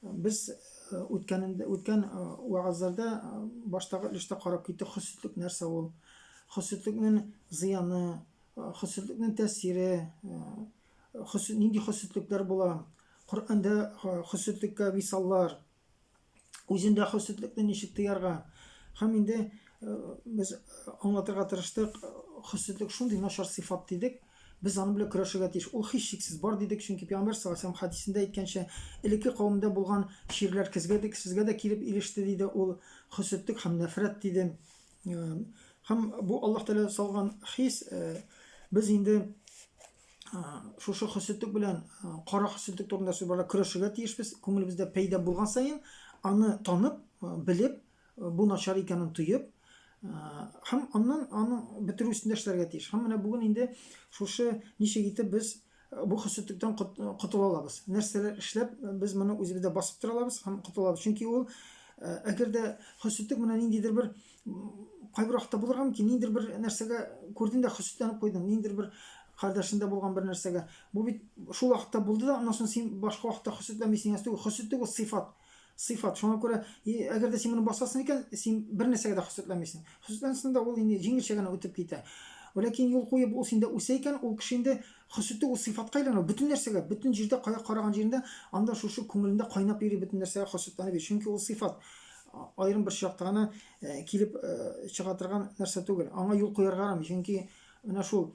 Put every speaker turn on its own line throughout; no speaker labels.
Без үткәнендә үткән вәгазләрдә баштагы өлештә карап киттек хөсетлек нәрсә ул. Хөсетлекнең зыяны, хөсетлекнең тәэсире, хөсет нинди хөсетлекләр була. Коръәндә хөсетлеккә мисаллар, үзендә хөсетлекне ничек тыярга. Һәм инде без аңлатырга тырыштык, хөсетлек шундый начар сыйфат дидек, Без аның белән көрәшергә тиеш. Ул һичшиксез бар, дидек, чөнки пәйгамбәр саллаллаһу галәйһи ва сәлләм хәдисендә әйткәнчә, элекке кавемдә булган чирләр кезгә дә, сезгә дә килеп иреште, диде ул, хөсетлек һәм нәфрәт, диде. Һәм бу Аллаһ Тәгалә салган хис, без инде шушы хөсетлек белән, кара хөсетлек турында сүз барда көрәшергә тиешбез, күңелебездә пәйда булган саен, аны танып, белеп, бу начар икәнен тоеп, һәм аннан аны бетерү өстендә эшләргә тиеш. Һәм менә бүген инде шушы ничек итеп без бу хөсетлектән котыла алабыз. Нәрсәләр эшләп без моны үзебездә басып тора алабыз һәм котыла алабыз. Чөнки ул әгәр дә хөсетлек менә ниндидер бер кайбер вакытта булырга мөмкин, ниндидер бер нәрсәгә күрдең дә хөсетләнеп куйдың, ниндидер бер кардәшендә булган бер нәрсәгә. Бу бит шул вакытта булды да, аннан соң син башка вакытта хөсетләмисең. Хөсетлек ул сыйфат. сыйфат. Шуңа күрә, әгәр дә син моны басасың икән, син бер нәрсәгә дә хөсетләмисең. Хөсетләнсәң дә, ул инде җиңелчә генә үтеп китә. Ләкин юл куеп ул синдә үсә икән, ул кеше инде хөсете ул сыйфатка әйләнә, бөтен нәрсәгә, бөтен җирдә, кая караган җирендә, анда шушы күңелендә кайнап йөри бөтен нәрсәгә хөсетләнеп йөри. Чөнки ул сыйфат аерым бер чакта гына килеп чыга торган нәрсә түгел. Аңа юл куярга ярамый, чөнки менә шул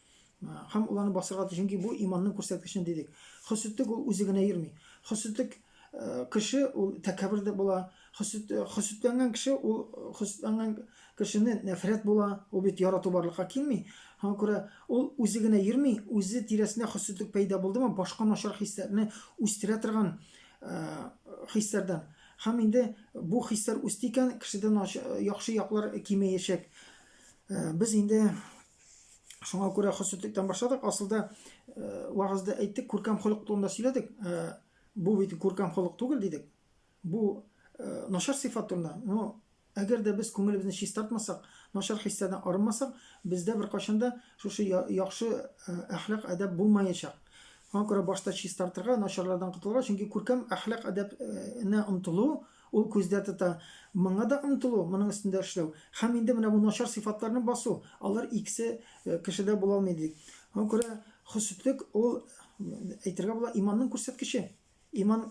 Хам уланы басырга чөнки бу иманның күрсәткечен дидек. Хөсетлек ул үзе генә йөрми. Хөсетлек э, кеше ул тәкәббер дә була. Хөсетләнгән э, кеше ул э, хөсетләнгән кешене нәфрәт була. Ул бит ярату барлыкка килми. Һәм күрә ул үзе генә йөрми, үзе тирәсенә хөсетлек пәйда булдымы, башка начар хисләрне үстерә торган хисләрдән. Хам инде бу хисләр үсте икән, кешедә яхшы яклар кимеячәк. Без инде Шуңа күрә хөсетлектән башладык. Асылда э, вагызда әйттек, күркәм холык турында сөйләдек. Э, бу бит күркәм холык түгел дидек. Бу э, начар сыйфат турында. Но әгәр дә без күңелебезне чистартмасак, начар хисләрдән арынмасак, бездә беркайчан да шушы яхшы әхлак әдәп булмаячак. Шуңа күрә башта чистартырга, начарлардан котылырга, чөнки күркәм әхлак әдәпне омтылу Ул күздә тота, моңа да омтылу, моның өстендә эшләү һәм инде менә бу начар сыйфатларны басу, алар икесе кешедә була алмый, ди. Аңа күрә хөсетлек ул, әйтергә була, иманның күрсәткече. Иман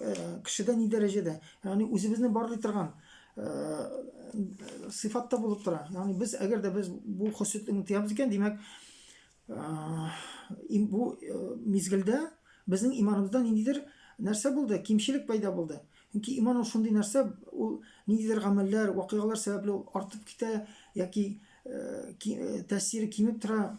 кешедә ни дәрәҗәдә, ягъни үзебезне барлый торган сыйфатта булып тора. Ягъни без, әгәр дә без бу хөсетлекне тыябыз икән, димәк, Э, бу э, мизгелдә безнең иманыбызда ниндидер нәрсә булды кимчелек пайда булды чөнки иман ул шундый нәрсә ул ниндидер гамәлләр вакыйгалар сәбәпле ул артып китә яки э, тәэсире кимеп тора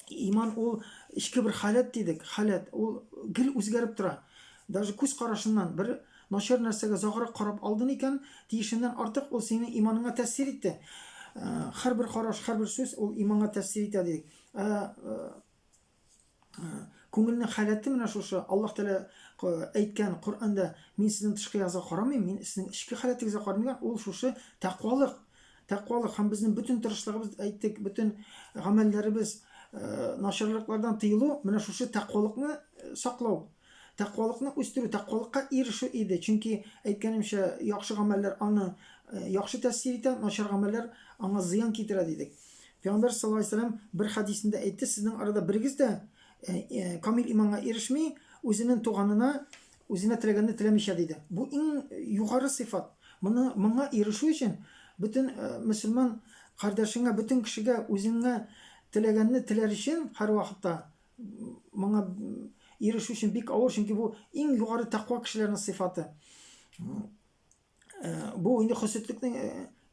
иман ул эчке бер халәт дидек халәт ул гел үзгәреп тора Даже күз карашыннан бер начар нәрсәгә озаграк карап алдын икән, тиешеннән артык ул синең иманыңа тәэсир итте. Һәрбер караш, һәрбер сүз ул иманга тәэсир итә дидек. Ә күңелнең халәте менә шушы. Аллаһ Тәгалә әйткән Коръәндә, мин сезнең тышкы язга карамыйм, мин сезнең эчке халәтегезгә карыйм Ул шушы тәкъвалык. Тәкъвалык һәм безнең бөтен тырышлыгыбыз әйттек, бөтен гамәлләребез, начарлыклардан тыелу, менә шушы тәкъвалыкны саклау. Тәкъвалыкны үстерү, тәкъвалыкка ирешү иде, чөнки, әйткәнемчә, яхшы гамәлләр аны яхшы тәэсир итә, начар гамәлләр аңа зыян китерә, дидек. Пәйгамбәр саллаллаһу алейһи ва сәлләм бер хәдисендә әйтте, Сезнең арада берегез дә камил иманга ирешми, үзенең туганына үзенә теләгәнне теләмичә, диде. Бу иң югары сыйфат. Моны, моңа ирешү өчен, бөтен мөселман кардәшеңә, бөтен кешегә үзеңә теләгәнне теләр өчен һәрвакытта моңа ирешү өчен бик авыр, чөнки бу иң югары тәкъва кешеләрнең сыйфаты. Э, бу инде хөсетлекнең э,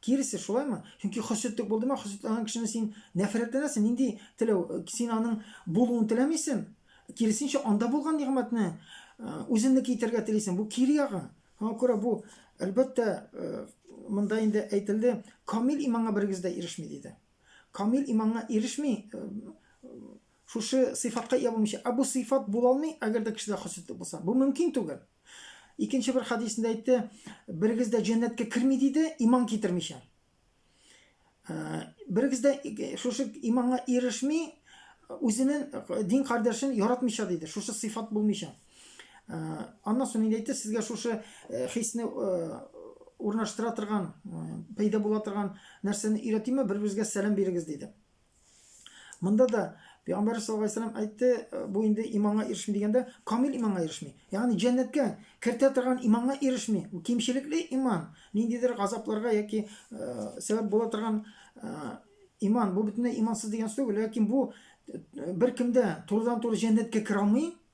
киресе, шулаймы? Чөнки хөсетлек булдымы, хөсетләнгән кешене син нәфрәтләнәсең, нинди теләү, э, син аның булуын теләмисең. Киресенчә, анда булган нигъмәтне үзеңне китерергә телисең. Бу кире ягы. Шуңа күрә бу, әлбәттә, монда инде әйтелде, камил иманга берегез дә ирешми диде. Камил иманга ирешми, шушы сыйфатка ия булмыйча. Ә бу сыйфат була алмый, әгәр дә кешедә хөсетлек булса. Бу мөмкин түгел. Икенче бер хадисендә әйтте, берегез дә җәннәткә керми диде, иман китермичә. Берегез дә шушы иманга ирешми, үзенең дин кардәшен яратмыйча диде. Шушы сыйфат булмыйча. Аннан соң инде әйтте, сезгә шушы хисне урнаштыра торган, пәйда була торган нәрсәне өйрәтимме, бер-берегезгә сәлам бирегез диде. Монда да Пәйгамбәр саллаллаһу алейһи ва әйтте, э, бу инде иманга ирешми дигәндә, камил иманга ирешми. Ягъни җәннәткә кертә торган иманга ирешми. Бу кимчелекле иман, ниндидер газапларга яки э, сәбәп була торган э, иман. Бу бөтенләй имансыз дигән сүз түгел, ләкин бу беркемдә турыдан-туры җәннәткә керә алмый,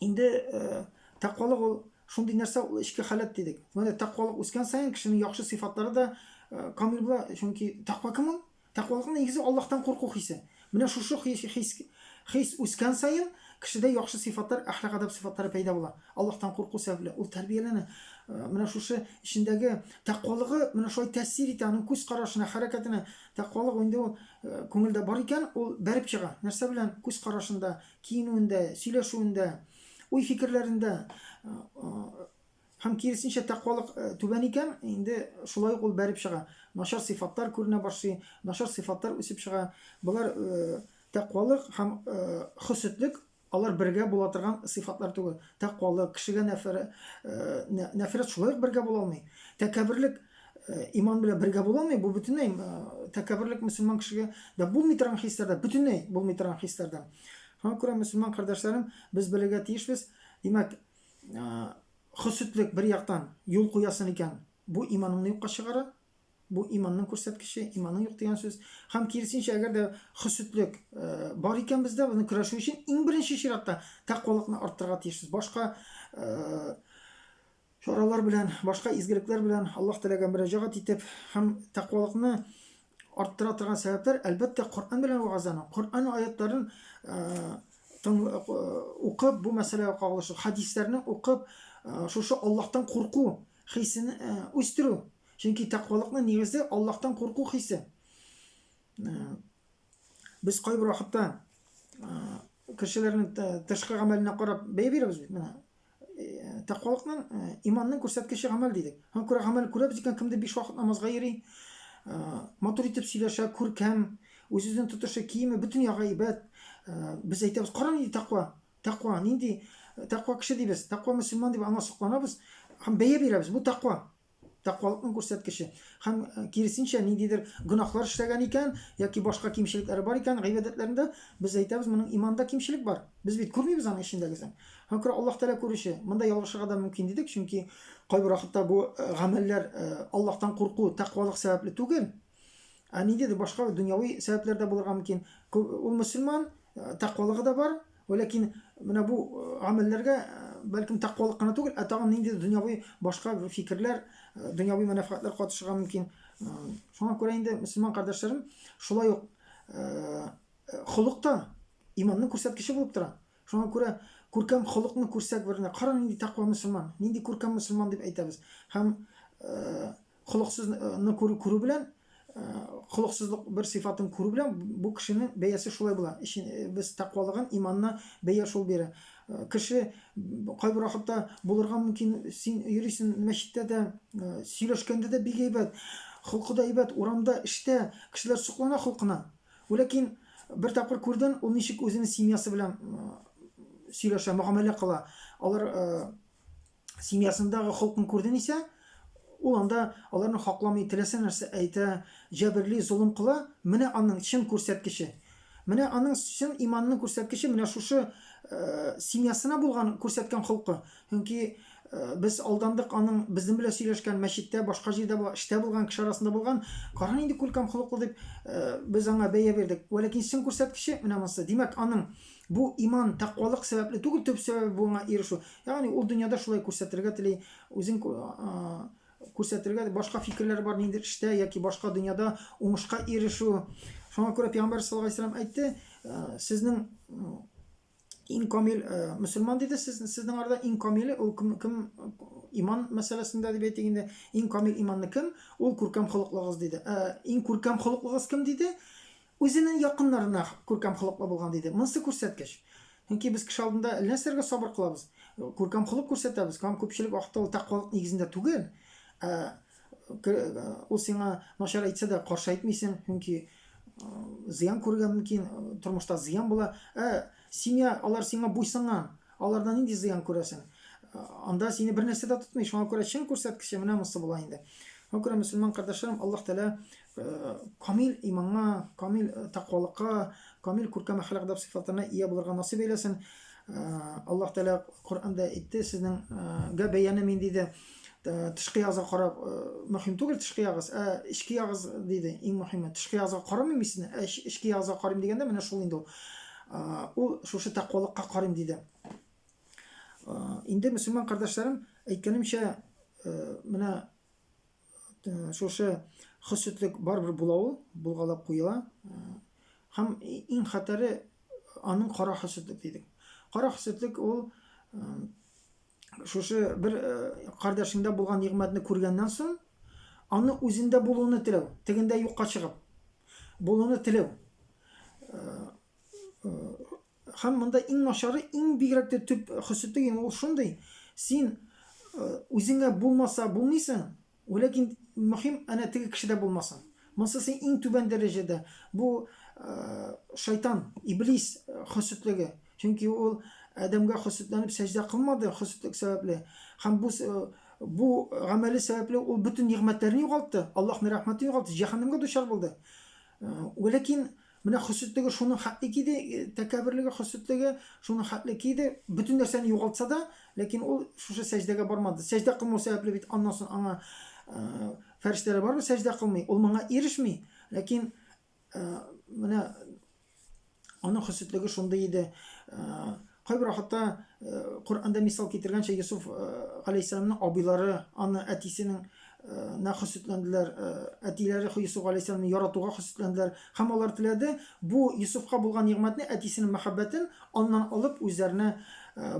Инде э, тәкъвалык ул шундый нәрсә, ул эчке халәт дидек. Менә тәкъвалык үскән саен кешенең яхшы сыйфатлары да э, камил була, чөнки тәкъва кем ул? Тәкъвалыкның нигезе Аллаһтан курку хисе. Менә шушы хис, хис, хис үскән саен кешедә яхшы сыйфатлар, әхлак адаб сыйфатлары пәйда була. Аллаһтан курку сәбәпле ул тәрбияләнә. Э, менә шушы эчендәге тәкъвалыгы менә шулай тәэсир итә аның күз карашына, хәрәкәтенә. Тәкъвалык инде ул э, күңелдә бар икән, ул бәреп чыга. Нәрсә белән? Күз карашында, киенүендә, сөйләшүендә, уй-фикерләрендә һәм киресенчә тәкъвалык түбән икән, инде шулай ук ул бәреп чыга. Начар сыйфатлар күренә башлый, начар сыйфатлар үсеп чыга. Болар тәкъвалык һәм хөсетлек алар бергә була торган сыйфатлар түгел. Тәкъвалык, кешегә нәфрәт, нәфрәт шулай ук бергә була алмый. Тәкәбберлек иман белән бергә була алмый, бу бөтенләй тәкәбберлек мөселман кешегә дә булмый торган хисләрдә, бөтенләй булмый торган хисләрдән. Шуңа күрә мөселман кардәшләрем, без белергә тиешбез. Димәк, хөсетлек бер яктан юл куясын икән, бу иманыңны юкка чыгара, бу иманның күрсәткече, иманың юк дигән сүз. Һәм киресенчә, әгәр дә хөсетлек бар икән бездә, безне көрәшү өчен иң беренче чиратта тәкъвалыкны арттырырга тиешбез. Башка чаралар белән, башка изгелекләр белән Аллаһ Тәгаләгә мөрәҗәгать итеп һәм тәкъвалыкны арттыра торган сәбәпләр, әлбәттә, Коръән белән вәгазьләнү. Коръән аятларын укып, бу мәсьәләгә кагылышлы хәдисләрне укып, шушы Аллаһтан курку хисен үстерү. Чөнки тәкъвалыкның нигезе Аллаһтан курку хисе. Без кайбер вакытта кешеләрнең тышкы гамәленә карап бәя бирәбез бит менә. Э, тәкъвалыкның э, иманның күрсәткече гамәл дидек. Һәм күрә гамәл күрәбез икән, кемдер биш вакыт намазга йөри, э, матур итеп сөйләшә, күркәм, үз-үзен тотышы, киеме бөтен ягы әйбәт. Без әйтәбез, кара нинди тәкъва, тәкъва, нинди тәкъва кеше дибез, тәкъва мөселман дип аңа сокланабыз һәм бәя бирәбез. Бу тәкъва. тәкъвалыкның күрсәткече. Һәм э, киресенчә ниндидер гөнаһлар эшләгән икән яки башка кимчелекләре бар икән гыйбадәтләрендә, без әйтәбез, моның иманда кимчелек бар. Без бит күрмибез аның эчендәгесен. Һәм күрә Аллаһ Тәгалә күрүче. Монда ялгышырга да мөмкин дидек, чөнки кайбер вакытта бу э, гамәлләр э, Аллаһтан курку, тәкъвалык сәбәпле түгел. Ә ниндидер башка дөньяви сәбәпләр дә булырга мөмкин. Ул мөселман, э, тәкъвалыгы да бар, ләкин менә бу э, гамәлләргә э, бәлкем тәкъвалык кына түгел, ә тагын ниндидер дөньяви башка фикерләр, дөньяви мәнфәгатьләр катышырга мөмкин. Шуңа күрә инде мөселман кардәшләрем шулай ук холык та иманның күрсәткече булып тора. Шуңа күрә күркәм холыкны күрсәк берне, кара нинди тәкъва мөселман, нинди күркәм мөселман дип әйтәбез. Һәм Холыксызны күрү күрү белән холыксызлык бер сыйфатын күрү белән бу кешенең бәясе шулай була. Ишин без тәкъвалыгын, иманны бәя шул бирә. Кеше кайбер вакытта булырга мөмкин, син йөрисен мәчеттә дә, сөйләшкәндә дә бик әйбәт, холкы да әйбәт, урамда, эштә кешеләр соклана холкына. Ләкин бер тапкыр күрден, ул ничек үзенең семьясы белән сөйләшә, мөгамәлә кыла. Алар семьясындагы холкын күрден исә, ул анда аларны хакламый, теләсә нәрсә әйтә, җәберли, золым кыла. Менә аның чын күрсәткече. Менә аның чын иманның күрсәткече менә шушы э, семьясына булган күрсәткән холкы. Чөнки э, без алдандык аның безнең белән сөйләшкән мәчеттә, башка җирдә булган, эштә булган кеше арасында булган, кара нинди күркәм холыклы дип э, без аңа бәя бирдек. Вәләкин чын күрсәткече менә монысы. Димәк, аның Бу иман, тәкъвалык сәбәпле түгел, төп сәбәбе буңа ирешү. Ягъни ул дөньяда шулай күрсәтергә тели, үзен күрсәтергә башка фикерләре бар ниндидер эштә яки башка дөньяда уңышка ирешү. Шуңа күрә пәйгамбәр саллаллаһу алейһи вәсәлләм әйтте, э, сезнең иң камил э, мөселман диде, сез сезнең арада иң камиле ул кем, кем иман мәсьәләсендә дип әйтик инде, иң камил иманны кем? Ул күркәм холыклыгыз диде. Э, иң күркәм холыклыгыз кем диде? Үзенең якыннарына күркәм холыклы булган, диде. Монысы күрсәткеч. Чөнки без кеше алдында әллә нәрсәләргә сабыр кылабыз, күркәм холык күрсәтәбез, һәм күпчелек вакытта ул тәкъвалык нигезендә түгел. Ә ул сиңа начар әйтсә дә, каршы әйтмисең, чөнки зыян күрергә мөмкин, тормышта зыян була. Ә семья, алар сиңа буйсынган, алардан нинди зыян күрәсең? Анда сине бернәрсә дә тотмый, шуңа күрә чын күрсәткече менә монысы була инде. Шуңа күрә, мөселман кардәшләрем, Аллаһ Тәгалә камил иманга, камил тәкъвалыкка, камил күркәм әхлак әдәп сыйфатына ия булырга насыйп әйләсен. Аллаһ Тәгалә Коръәндә әйтте, сезнең гә бәяне мин диде, тышкы язга карап, мөһим түгел тышкы ягыз, ә эчке ягыз диде, иң мөһиме. Тышкы язга карамыйм мин сезне, ә эчке язга карыйм дигәндә менә шул инде ул. Ул шушы тәкъвалыкка карыйм диде. Инде мөселман кардәшләрем, әйткәнемчә, менә Э, шушы хөсетлек барыбер була ул булгалап куела э, һәм иң хәтәре аның кара хөсетлек дидек кара хөсетлек ул э, шушы бер кардәшеңдә булган нигъмәтне күргәннән соң аны үзендә булуны теләү тегендә юкка чыгып булуны теләү Хәм монда иң начары, иң бигрәк тә төп хөсете ин ул шундый, син үзеңә булмаса булмыйсың, ләкин мөхим әнә теге кешедә булмасын. Монсы син иң түбән дәрәҗәдә бу шайтан, иблис хөсетлеге. Чөнки ул Адәмгә хөсетләнеп сәҗдә кылмады хөсетлек сәбәпле. Хәм бу бу гамәле сәбәпле ул бөтен нигъмәтләрне югалтты, Аллаһның рәхмәтен югалтты, җәһәннәмгә дучар булды. Ләкин Менә хөсетлеге шуның хәтле киде, тәкәбберлеге, хөсетлеге шуның хәтле киде. Бөтен нәрсәне югалтса да, ләкин ул шушы сәҗдәгә бармады. Сәҗдә кылмау сәбәпле бит аннан соң аңа фәрештәләр бармы сәҗдә кылмый. Ул моңа ирешми, ләкин менә аның хөсетлеге шундый иде. Кайберәү хәтта Коръәндә мисал китергәнчә Йосыф галәйһиссәламның абыйлары аны әтисенең нә хөсетләнделәр, әтиләре Йосыф галәйһиссәламны яратуга хөсетләнделәр һәм алар теләде бу Йосыфка булган нигъмәтне, әтисенең мәхәббәтен аннан алып үзләренә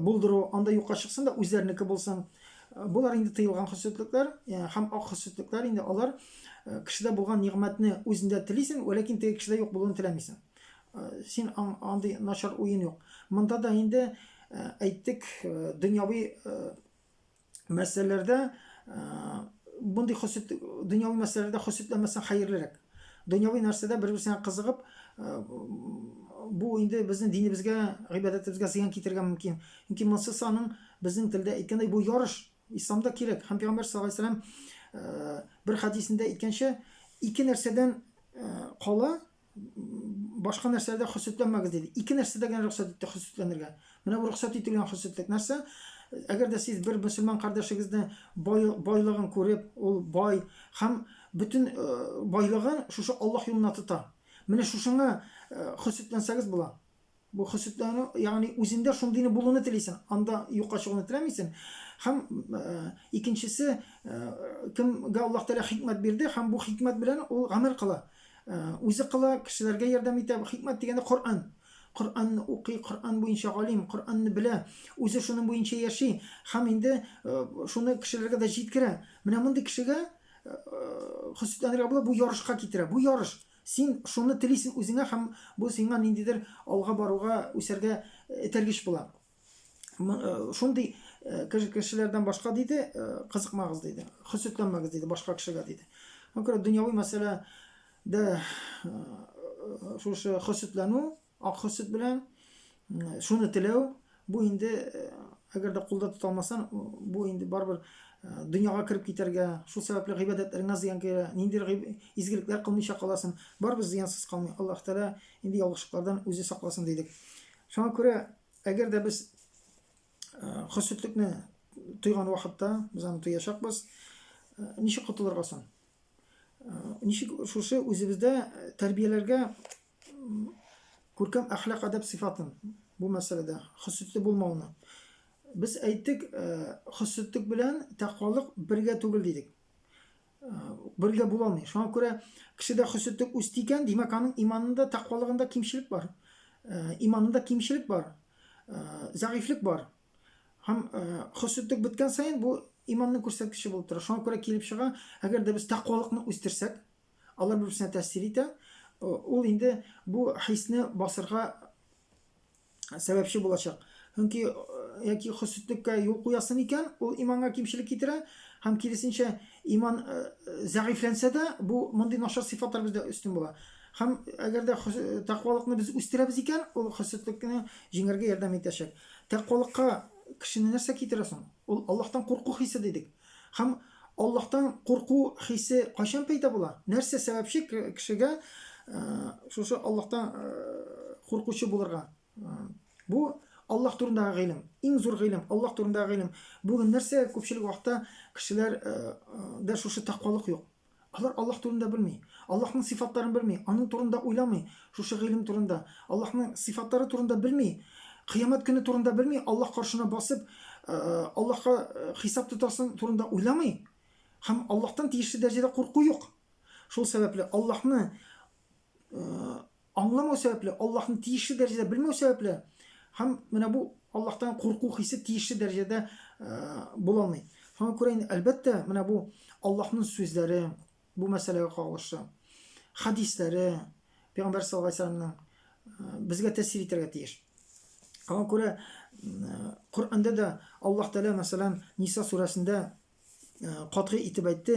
булдыру, анда юкка чыксын да үзләренеке булсын. Болар инде тыелган хөсетлекләр һәм ак хөсетлекләр инде алар кешедә булган нигъмәтне үзендә телисең, вәләкин теге кешедә юк булуын теләмисең. Син андый начар уен юк. Монда да инде әйттек, дөньяви мәсьәләләрдә мондый хөсет дөньяви мәсьәләләрдә хөсетләмәсәң хәерлерәк. Дөньяви нәрсәдә бер-берсенә кызыгып, бу инде безнең динебезгә, гыйбадәтебезгә зыян китергә мөмкин. Чөнки монсы саның безнең телдә әйткәндә бу ярыш исламда кирәк. Һәм пәйгамбәр саллаллаһу алейһи ва сәлләм бер хәдисендә әйткәнчә, ике нәрсәдән кала, башка нәрсәләрдә хөсетләнмәгез диде. Ике нәрсәдә генә рөхсәт итте хөсетләнергә. Менә бу рөхсәт ителгән хөсетлек нәрсә? Әгәр дә сез бер мөселман кардәшегезне бай, байлыгын күреп, ул бай һәм бөтен э, байлыгын шушы Аллаһ юлына тота. Менә шушыңа э, хөсетләнсәгез була. Бу хөсетләнү, ягъни үзендә шундыйны булуны телисен, анда юкка чыгуны теләмисен. Һәм икенчесе, кемгә Аллаһ Тәгалә хикмәт бирде, һәм бу хикмәт белән ул гамәл кыла. Үзе кыла, кешеләргә ярдәм итә. Хикмәт дигәндә Коръән. Коръәнне укый, Коръән буенча галим, Коръәнне белә, үзе шуның буенча яши һәм инде шуны кешеләргә дә җиткерә. Менә мондый кешегә хөсетләнергә була, бу ярышка китерә. Бу ярыш. Син шуны телисең үзеңә һәм бу сиңа ниндидер алга баруга, үсәргә этәргеч була. Шундый кешеләрдән башка диде, кызыкмагыз диде. Хөсетләнмәгез диде башка кешегә диде. Күрә дөньяви мәсьәлә дә шушы хөсетләнү Акы сөт белән шуны теләү, бу инде әгәр дә кулда тота алмасаң, бу инде барыбер дөньяга кереп китәргә, шул сәбәпле гыйбадәтләреңә зыян килә, нинди изгелекләр кылмыйча каласың, барыбер зыянсыз калмый. Аллаһ Тәгалә инде ялгышлыклардан үзе сакласын дидек. Шуңа күрә, әгәр дә без хөсетлекне тойган вакытта, без аны тоячакбыз, ничек котылырга соң? Ничек шушы үзебездә тәрбияләргә Күркәм әхлак әдәп сыйфатын бу мәсьәләдә хөсетле булмауны. Без әйттек, хөсетлек белән тәкъвалык бергә түгел дидек. Бергә була алмый. Шуңа күрә кешедә хөсетлек үсте икән, димәк, аның иманында, тәкъвалыгында кимчелек бар. Иманында кимчелек бар, зәгыйфлек бар. Һәм хөсетлек беткән саен бу иманның күрсәткече булып тора. Шуңа күрә килеп чыга, әгәр дә без тәкъвалыкны үстерсәк, Алар бер-берсенә тәэсир итә. Ул инде бу хисне басырга сәбәпче булачак. Чөнки яки хөсетлеккә юл куясы микән, ул иманга кимчелек китерә һәм киресенчә иман зәгыйфьләнсә дә, бу мондый начар сыйфатлар бездә өстен була. Һәм әгәр дә тәкъвалыкны без үстерәбез икән, ул хөсетлекне җиңәргә ярдәм итәчәк. Тәкъвалыкка кешене нәрсә китерә соң? Ул Аллаһтан курку хисе дидек. Һәм Аллаһтан курку хисе кайчан пәйда була? Нәрсә сәбәпче кешегә шушы Аллаһтан куркучы булырга? Бу Аллаһ турындагы гыйлем, иң зур гыйлем, Аллаһ турындагы гыйлем. Бүген нәрсә күпчелек вакытта кешеләр дә шушы тәкъвалык юк. Алар Аллаһ турында белми. Аллаһның сыйфатларын белми. Аның турында уйламый. Шушы гыйлем турында. Аллаһның сыйфатлары турында белми. Кыямәт көне турында белми. Аллаһ каршына басып, Аллаһка хисап тотасың турында уйламый. Һәм Аллаһтан тиешле дәрәҗәдә курку юк. Шул сәбәпле Аллаһны аңламау сәбәпле, Аллаһны тиешле дәрәҗәдә белмәү сәбәпле һәм менә бу Аллаһтан курку хисе тиешле дәрәҗәдә була алмый. Шуңа күрә инде әлбәттә менә бу Аллаһның сүзләре бу мәсьәләгә кагылышлы. Хәдисләре Пәйгамбәр саллаллаһу алейһи вәсәлламның безгә тәэсир итәргә тиеш. Шуңа күрә Коръәндә дә Аллаһ Тәгалә мәсәлән Ниса сүрәсендә катгый итеп әйтте,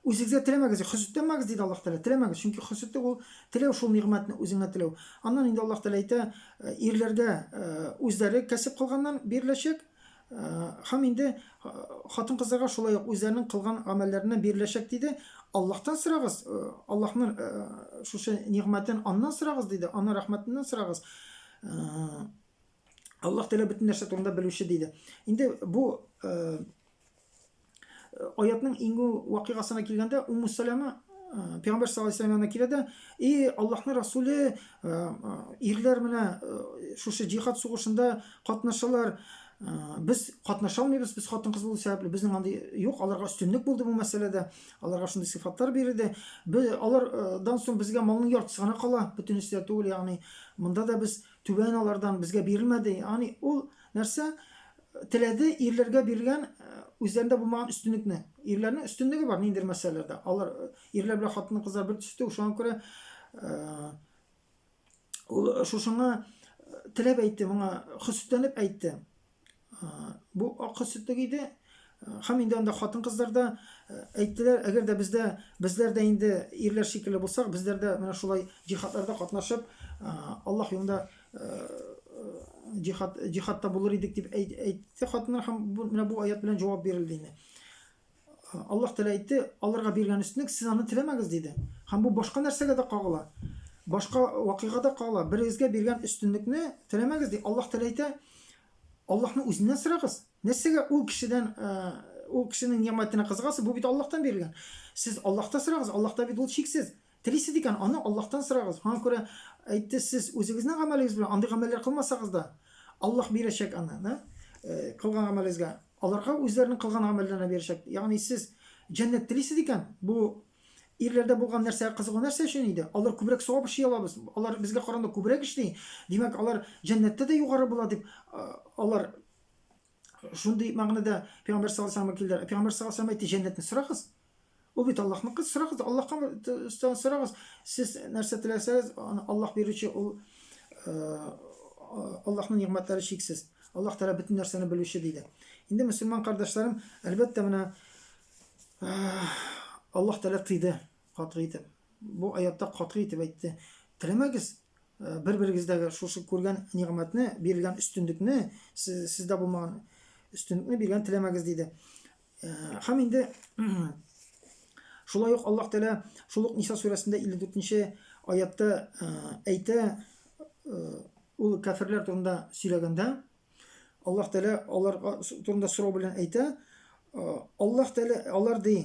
Үзегезгә теләмәгез, хөсеттәнмәгез, диде Аллаһ Тәгалә. Теләмәгез, чөнки хөсете ул теләү шул нигъмәтне үзеңә теләү. Аннан инде Аллаһ Тәгалә әйтә, ирләргә үзләре кәсеп кылганнан биреләчәк, һәм инде хатын-кызларга шулай ук үзләренең кылган гамәлләреннән биреләчәк, диде. Аллаһтан сорагыз, Аллаһның шушы нигъмәтен аннан сорагыз, диде, аның рәхмәтеннән сорагыз. Аллаһ Тәгалә бөтен нәрсә турында белүче, диде. Инде бу Аятның иңгү вакыйгасына килгәндә, Умму Саляма Пәйгамбәр саллаллаху алейһи янына килә дә, "И Аллаһның Расуле, ирләр менә шушы җихад сугышында катнашалар, без катнаша алмыйбыз, без хатын-кыз булу сәбәпле, безнең андый юк, аларга өстенлек булды бу мәсьәләдә, аларга шундый сыйфатлар бирелде. Без алардан соң безгә малның яртысы гына кала, бөтенесе дә түгел, ягъни монда да без түбән алардан безгә бирелмәде. Ягъни ул нәрсә Теләде, ирләргә бирелгән үзләрендә булмаган өстенлекне. Ирләрнең өстенлеге бар ниндидер мәсьәләләрдә. Алар ирләр белән хатын-кызлар бер төстә, шуңа күрә ул шушыңа теләп әйтте, моңа хөсетләнеп әйтте. Бу ак хөсетлек иде. Һәм инде анда хатын-кызлар да әйттеләр, әгәр дә бездә безләр дә инде ирләр шикелле булсак, безләр дә менә шулай җихадларда катнашып, Аллаһ юлында җихад җихадта булыр идек дип әйтте хатыннар һәм менә бу аят белән җавап бирелде инде. Аллаһ Тәгалә әйтте, аларга биргән өстенлек сез аны теләмәгез диде. Һәм бу башка нәрсәгә дә кагыла. Башка вакыйга да кагыла. Берегезгә биргән өстенлекне теләмәгез ди. Аллаһ Тәгалә әйтә, Аллаһны үзеннән сорагыз. Нәрсәгә ул кешедән ул кешенең нигъмәтенә кызыгасыз? Бу бит Аллаһтан бирелгән. Сез Аллаһта сорагыз, Аллаһта бит ул чиксез. Телисез икән, аны Аллаһтан сорагыз. Шуңа күрә Әйтте, сез үзегезнең гамәлегез белән андый гамәлләр кылмасагыз да, Аллаһ бирәчәк аны, да? Кылган гамәлегезгә. Аларга үзләренең кылган гамәлләренә бирәчәк. Ягъни сез җәннәт телисез икән, бу ирләрдә булган нәрсәгә кызыгу нәрсә өчен иде? Алар күбрәк савап эшли алабыз. Алар безгә караганда күбрәк эшли. Димәк, алар җәннәттә дә югары була дип алар шундый мәгънәдә Пәйгамбәр саллаллаһу алейһи ва сәлләмгә килделәр. Пәйгамбәр саллаллаһу алейһи ва сәлләм әйтте, җәннәтне сорагыз. Ул бит Аллаһныкы, сорагыз, Аллаһка сорагыз. Сез нәрсә теләсәгез, аны Аллаһ бирүче, ул э, Аллаһның нигъмәтләре чиксез. Аллаһ Тәгалә бөтен нәрсәне белүче диде. Инде мусульман кардәшләрем, әлбәттә, менә э, Аллаһ Тәгалә тыйды, катгый итеп. Бу аятта катгый итеп әйтте. Теләмәгез, э, бер-берегездәге шушы күргән нигъмәтне, бирелгән өстенлекне, сездә булмаган өстенлекне биргән теләмәгез диде. Һәм инде шулай ук Аллаһ Тәгалә шул ук Ниса сүрәсендә 54-нче аятта әйтә, ул кәфирләр турында сөйләгәндә, Аллаһ Тәгалә алар турында сорау белән әйтә, Аллаһ Тәгалә алар ди,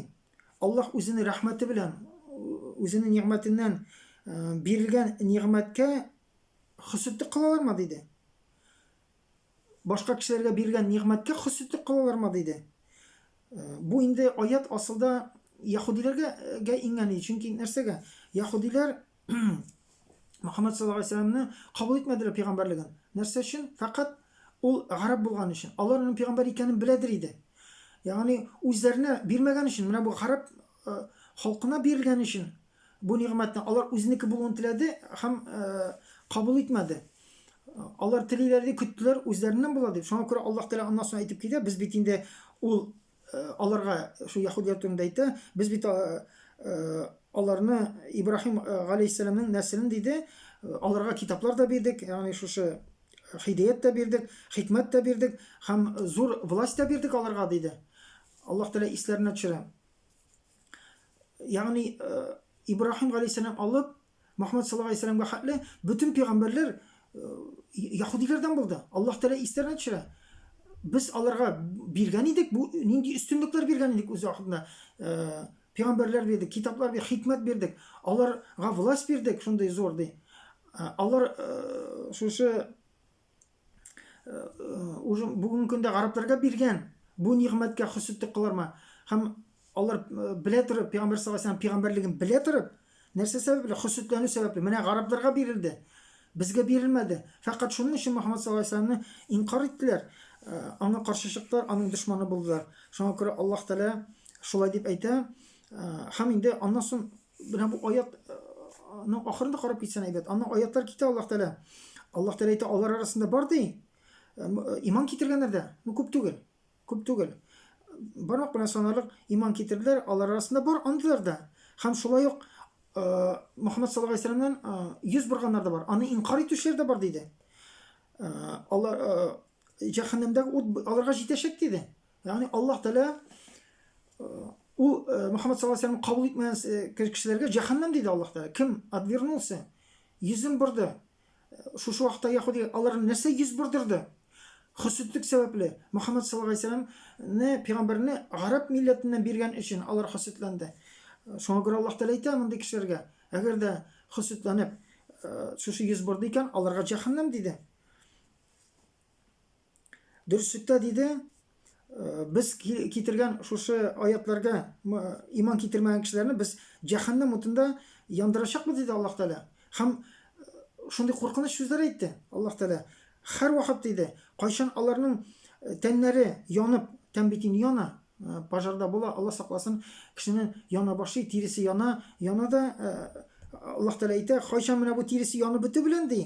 Аллаһ үзенең рәхмәте белән, үзенең нигъмәтеннән бирелгән нигъмәткә хөсетте кылалармы диде. башка кешеләргә бирелгән нигъмәткә хөсетлек кылалармы диде. Э, бу инде аят асылда яһудиләргә э, иңгән иде. Чөнки нәрсәгә? Яһудиләр Мөхәммәд саллаллаһу алейһи вәсәлламне кабул итмәделәр пәйгамбәрлеген. Нәрсә өчен? Фәкать ул гарәп булган өчен. Алар аның пәйгамбәр икәнен беләдер иде. Ягъни үзләренә бирмәгән өчен, менә бу гарәп э, халкына бирелгән өчен Бу нигъмәтне алар үзенеке булуын теләде һәм кабул итмәде. Алар телиләр дип көттеләр, үзләреннән була дип. Шуңа күрә Аллаһ Тәгалә аннан соң әйтеп китә, без бит инде ул аларга шул яһүдләр турында әйтә, без бит аларны Ибраһим галәйһиссәламның нәселен диде, аларга китаплар да бирдек, ягъни шушы хидәят та бирдек, хикмәт тә бирдек һәм зур власть та бирдек аларга диде. Аллаһ Тәгалә исләренә төшерә. Ягъни Ибраһим галәйһиссәлам алып Мөхәммәд саллаллаһу алейһи вәсәлләмгә хәтле бөтен пәйгамбәрләр яһудиләрдән булды. Аллаһ Тәгалә истәренә төшерә. Без аларга биргән идек, бу нинди өстенлекләр биргән идек үз вакытында. Пәйгамбәрләр бирдек, китаплар бирдек, хикмәт бирдек. Аларга власть бирдек, шундый зур ди. Алар шушы уже бүгенге көндә гарәпләргә биргән бу нигъмәткә хөсетлек кылырмы һәм алар белә торып пәйгамбәр саллаллаху алейһи пәйгамбәрлеген белә торып нәрсә сәбәпле хөсетләнү сәбәпле менә гарәпләргә бирелде безгә бирелмәде фәкать шуның өчен мөхәммәд саллаллаху алейһи инкар иттеләр аңа каршы чыктылар аның дошманы булдылар шуңа күрә аллаһ тәала шулай дип әйтә һәм инде аннан соң Менә бу аят аның ахырында карап китсәң әйбәт. Аның аятлар китә Аллаһ Тәгалә. Аллаһ Тәгалә әйтә, алар арасында бар ди. Иман китергәннәр дә. Бу күп түгел. Күп түгел. Бармак белән санарлык иман китерделәр, алар арасында бар андыйлар да. Һәм шулай ук Мөхәммәд саллаллаху алейһи вәсәлламнан йөз борганнар да бар. Аны инкар итүчеләр дә бар диде. Алар җәһәннәмдәге ут аларга җитәчәк диде. Ягъни Аллаһ Тәгалә ул Мөхәммәд саллаллаху алейһи кабул итмәгән кешеләргә җәһәннәм диде Аллаһ Тәгалә. Кем отвернулся, йөзен борды. Шушы вакытта яһуди аларны нәрсә йөз бордырды? Хөсетлек сәбәпле Мөхәммәд саллаллаху алейһи вәсәлламне, пәйгамбәрне гарәп милләтеннән биргән өчен алар хөсетләнде. Шуңа күрә Аллаһ Тәгалә әйтә мондый кешеләргә, әгәр дә хөсетләнеп, шушы йөз борды икән, аларга җәһәннәм диде. Дөреслекдә диде, э, без китергән шушы аятларга иман китермәгән кешеләрне без җәһәннәм утында яндырачакбыз диде Аллаһ Тәгалә. Һәм э, шундый куркыныч сүзләр әйтте Аллаһ Тәгалә. Һәр вакыт диде, кайчан аларның э, тәннәре янып, тән бит инде яна, пожарда була, Аллаһ сакласын, кешенең яна башы, тиресе яна, яна да Аллаһ Тәгалә әйтә, кайчан менә бу тиресе янып бетү белән ди,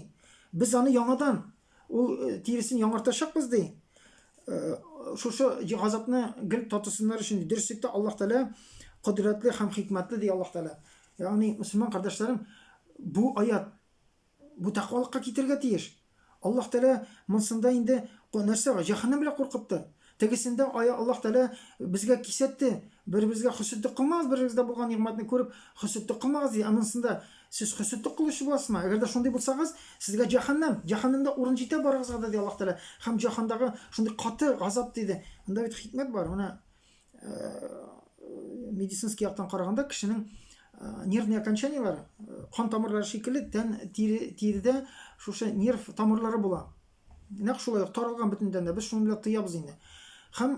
Без аны яңадан ул тиресен яңартачакбыз ди. Шушы газапны гел татысыннар өчен дөреслектә Аллаһ Тәгалә кодрәтле һәм хикмәтле ди Аллаһ Тәгалә. Ягъни, мөселман кардәшләрем, бу аят бу тәкъвалыкка китерергә тиеш. Аллаһ Тәгалә монсында инде нәрсә бар? Җәһәннәм белән куркытты. Тегесендә ая Аллаһ Тәгалә безгә кисәтте. Бер-берегезгә хөсетлек кылмагыз, бер-берегездә булган нигъмәтне күреп, хөсетлек кылмагыз ди. Ә монысында сез хөсетлек кылучы буласызмы? Әгәр дә шундый булсагыз, сезгә җәһәннәм, җәһәннәмдә урын җитә барыгызга да, ди Аллаһ Тәгалә. Һәм җәһәндагы шундый каты газап диде. Монда бит хикмәт бар. Менә медицинский яктан караганда кешенең нервный окончаниеләре, кан тамырлары шикелле, тән тире, тирдә шушы нерв тамырлары була. Нәкъ шулай ук таралган бөтендән дә без шуны белән тыябыз инде. Һәм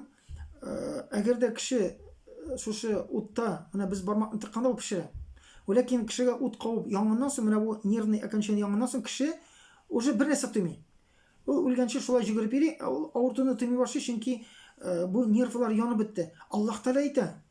әгәр дә кеше шушы утта, менә без бармак тыкканда ул пешерә. Ләкин кешегә ут кабып янгыннан соң, менә бу нервный окончание янгыннан соң кеше уже бер нәрсә тоймый. Ул үлгәнче шулай җөгереп йөри, ә ул авыртуны тоймый башлый, чөнки бу нервлар янып бетте. Аллаһ Тәгалә әйтә,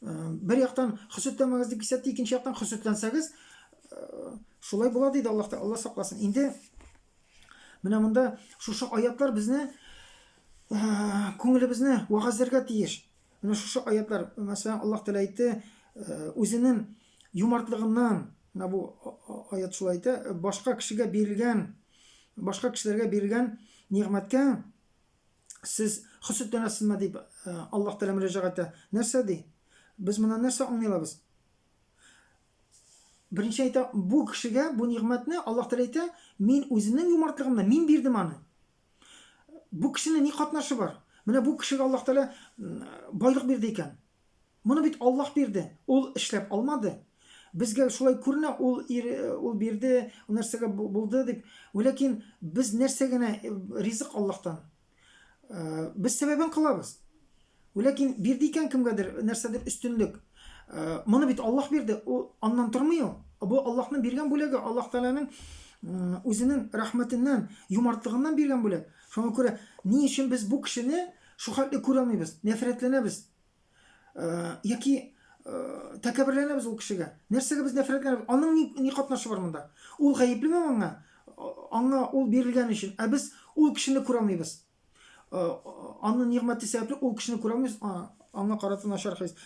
Бер яктан хөсетләмәгез дип кисәтте, икенче яктан хөсетләнсәгез, шулай була диде Аллаһ та, Аллаһ сакласын. Инде менә монда шушы аятлар безне күңелебезне вагазләргә тиеш. Менә шушы аятлар, мәсәлән, Аллаһ Тәгалә әйтте, үзенең юмартлыгыннан, менә бу аят шулай әйтә, башка кешегә бирелгән, башка кешеләргә бирелгән нигъмәткә сез хөсетләнәсезме дип э, Аллаһ Тәгалә мөрәҗәгать итә. Нәрсә ди? Без моннан нәрсә аңлый алабыз? Беренче әйтә, бу кешегә бу нигъмәтне Аллаһ Тәгалә әйтә, мин үземнең юмартлыгымны мин бирдем аны. Бу кешенең ни катнашы бар? Менә бу кешегә Аллаһ Тәгалә байлык бирде икән. Моны бит Аллаһ бирде, ул эшләп алмады. Безгә шулай күренә, ул ир, ул бирде, ул нәрсәгә булды дип. Ләкин без нәрсә генә ризык Аллаһтан. Без сәбәбен кылабыз. Ләкин бирде икән кемгәдер нәрсәдер өстенлек. Моны бит Аллаһ бирде, ул аннан тормый ул. Бу Аллаһның биргән бүләге, Аллаһ Тәгаләнең үзенең рәхмәтеннән, юмартлыгыннан биргән бүләк. Шуңа күрә ни өчен без бу кешене шул хәтле күрә алмыйбыз, нәфрәтләнәбез? Э, яки э, тәкәберләнәбез ул кешегә. Нәрсәгә без нәфрәтләнәбез? Аның ни, ни катнашы бар монда? Ул гаеплеме аңа? Аңа ул бирелгән өчен. Ә без ул кешене күрә алмыйбыз. Э, Аның нигъмәте сәбәпле ул кешене күрә алмыйбыз. Аңа карата начар хис.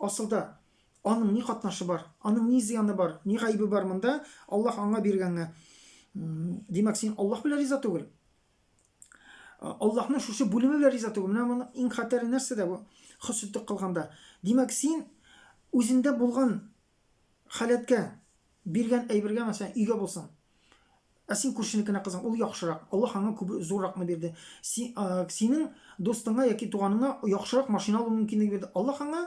Асылда аның ни катнашы бар? Аның ни зыяны бар? Ни гаебе бар монда? Аллаһ аңа биргәнгә. Димәк, син Аллаһ белән риза түгел. Аллаһның шушы бүлеме белән риза түгел. Менә моның иң хәтәре нәрсә дә бу? Хөсеттек кылганда. Димәк, син үзендә булган халәткә биргән әйбергә мәсәлән өйгә булсын. Ә син күршенекенә кызың, ул яхшырак. Аллаһ аңа күп зурракны бирде. Синең дустыңа яки туганыңа яхшырак машина алу мөмкинлеге бирде. Аллаһ аңа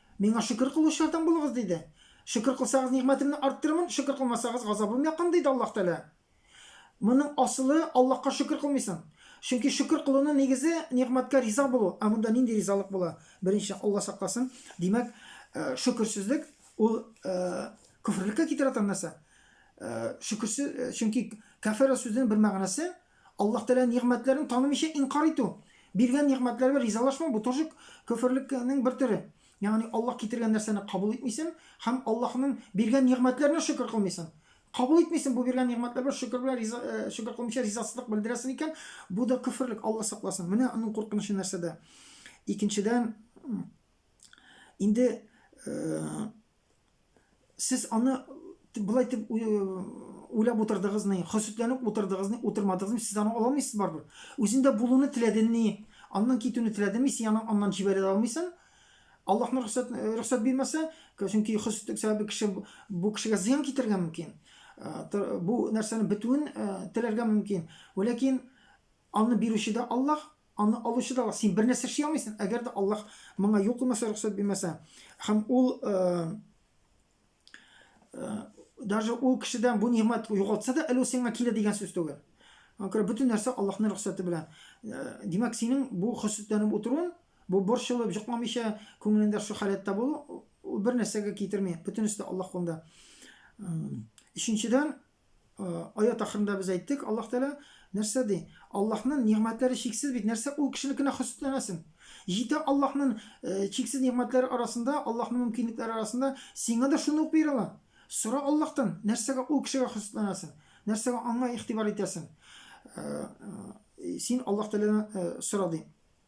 Миңа шөкер кылучылардан булыгыз, диде. Шөкер кылсагыз, нигъмәтемне арттырырмын, шөкер кылмасагыз, газабым якын, диде Аллаһ Тәгалә. Моның асылы, Аллаһка шөкер кылмыйсың. Чөнки шөкер кылуның нигезе, нигъмәткә риза булу. Ә монда нинди ризалык була? Беренче, Аллаһ сакласын, димәк, шөкерсезлек, ул көферлеккә китерә торган нәрсә. Шөкерсез, чөнки кәфәрә сүзенең бер мәгънәсе, Аллаһ Тәгалә нигъмәтләрен танымыйча инкарь итү, биргән нигъмәтләргә ризалашмау бу тоже көферлекнең бер төре. Ягъни Аллаһ китергән нәрсәне кабул итмисең һәм Аллаһның биргән нигъмәтләренә шөкер кылмыйсың. Кабул итмисең бу биргән нигъмәтләргә шөкер белән риза шөкер кылмыйча ризасызлык белдерәсең икән, бу да көферлек, Аллаһ сакласын. Менә аның куркынычы нәрсәдә. Икенчедән, инде сез аны болай итеп уйлап утырдыгызмы, хөсетләнеп утырдыгызмы, утырмадыгызмы, сез аны ала алмыйсыз барыбер. Үзендә булуны теләдеңме, аннан китүне теләдеңме, син аны аннан җибәрә алмыйсың. Аллаһның рөхсәт рөхсәт бирмәсә, чөнки хөсетлек сәбәбе кеше бу кешегә зыян китергән мөмкин. Бу нәрсәне бетүен теләргә мөмкин. Ләкин Аны бирүче дә Аллаһ, аны алучы да Аллаһ. Син бер нәрсә эшли алмыйсың, әгәр дә Аллаһ моңа юл куймаса, рөхсәт бирмәсә. Һәм ул даже ул кешедән бу нигъмәт югалтса да, әле ул сиңа килә дигән сүз түгел. Аңа күрә бөтен нәрсә Аллаһның рөхсәте белән. Димәк, синең бу хөсетләнеп утыруың, бу борчылып, җокламыйча, күңелендә шул халәттә булу, ул бер нәрсәгә китерми. Бөтенесе дә Аллаһ кулында. Өченчедән, аят ахырында без әйттек, Аллаһ Тәгалә нәрсә ди? Аллаһның нигъмәтләре чиксез бит, нәрсә ул кешенекенә хөсетләнәсең? Җитә Аллаһның э, чиксез нигъмәтләре арасында, Аллаһның мөмкинлекләре арасында сиңа да шуны ук бирә ала. Сора Аллаһтан, нәрсәгә ул кешегә хөсетләнәсең? Нәрсәгә аңа игътибар итәсең? Э, э, син Аллаһ Тәгаләдән сора ди.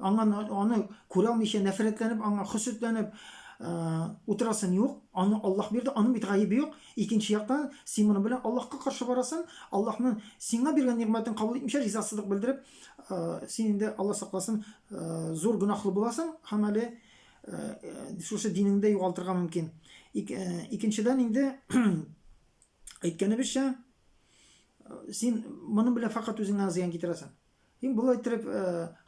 Аңа аны күрәлмичә нәфрәтләнеп, аңа хөсетләнеп утырасың юк. Аны Аллаһ бирде, аның бит гаебе юк. Икенче яктан, син моның белән Аллаһка каршы барасың. Аллаһның сиңа биргән нигъмәтен кабул итмичә, ризасызлык белдереп, син инде, Аллаһ сакласын, зур гөнаһлы буласың һәм әле шушы динеңдә югалтырга мөмкин. Икенчедән инде әйткәнебезчә, син моның белән факат үзеңә зыян китерәсең. Һин болай иттереп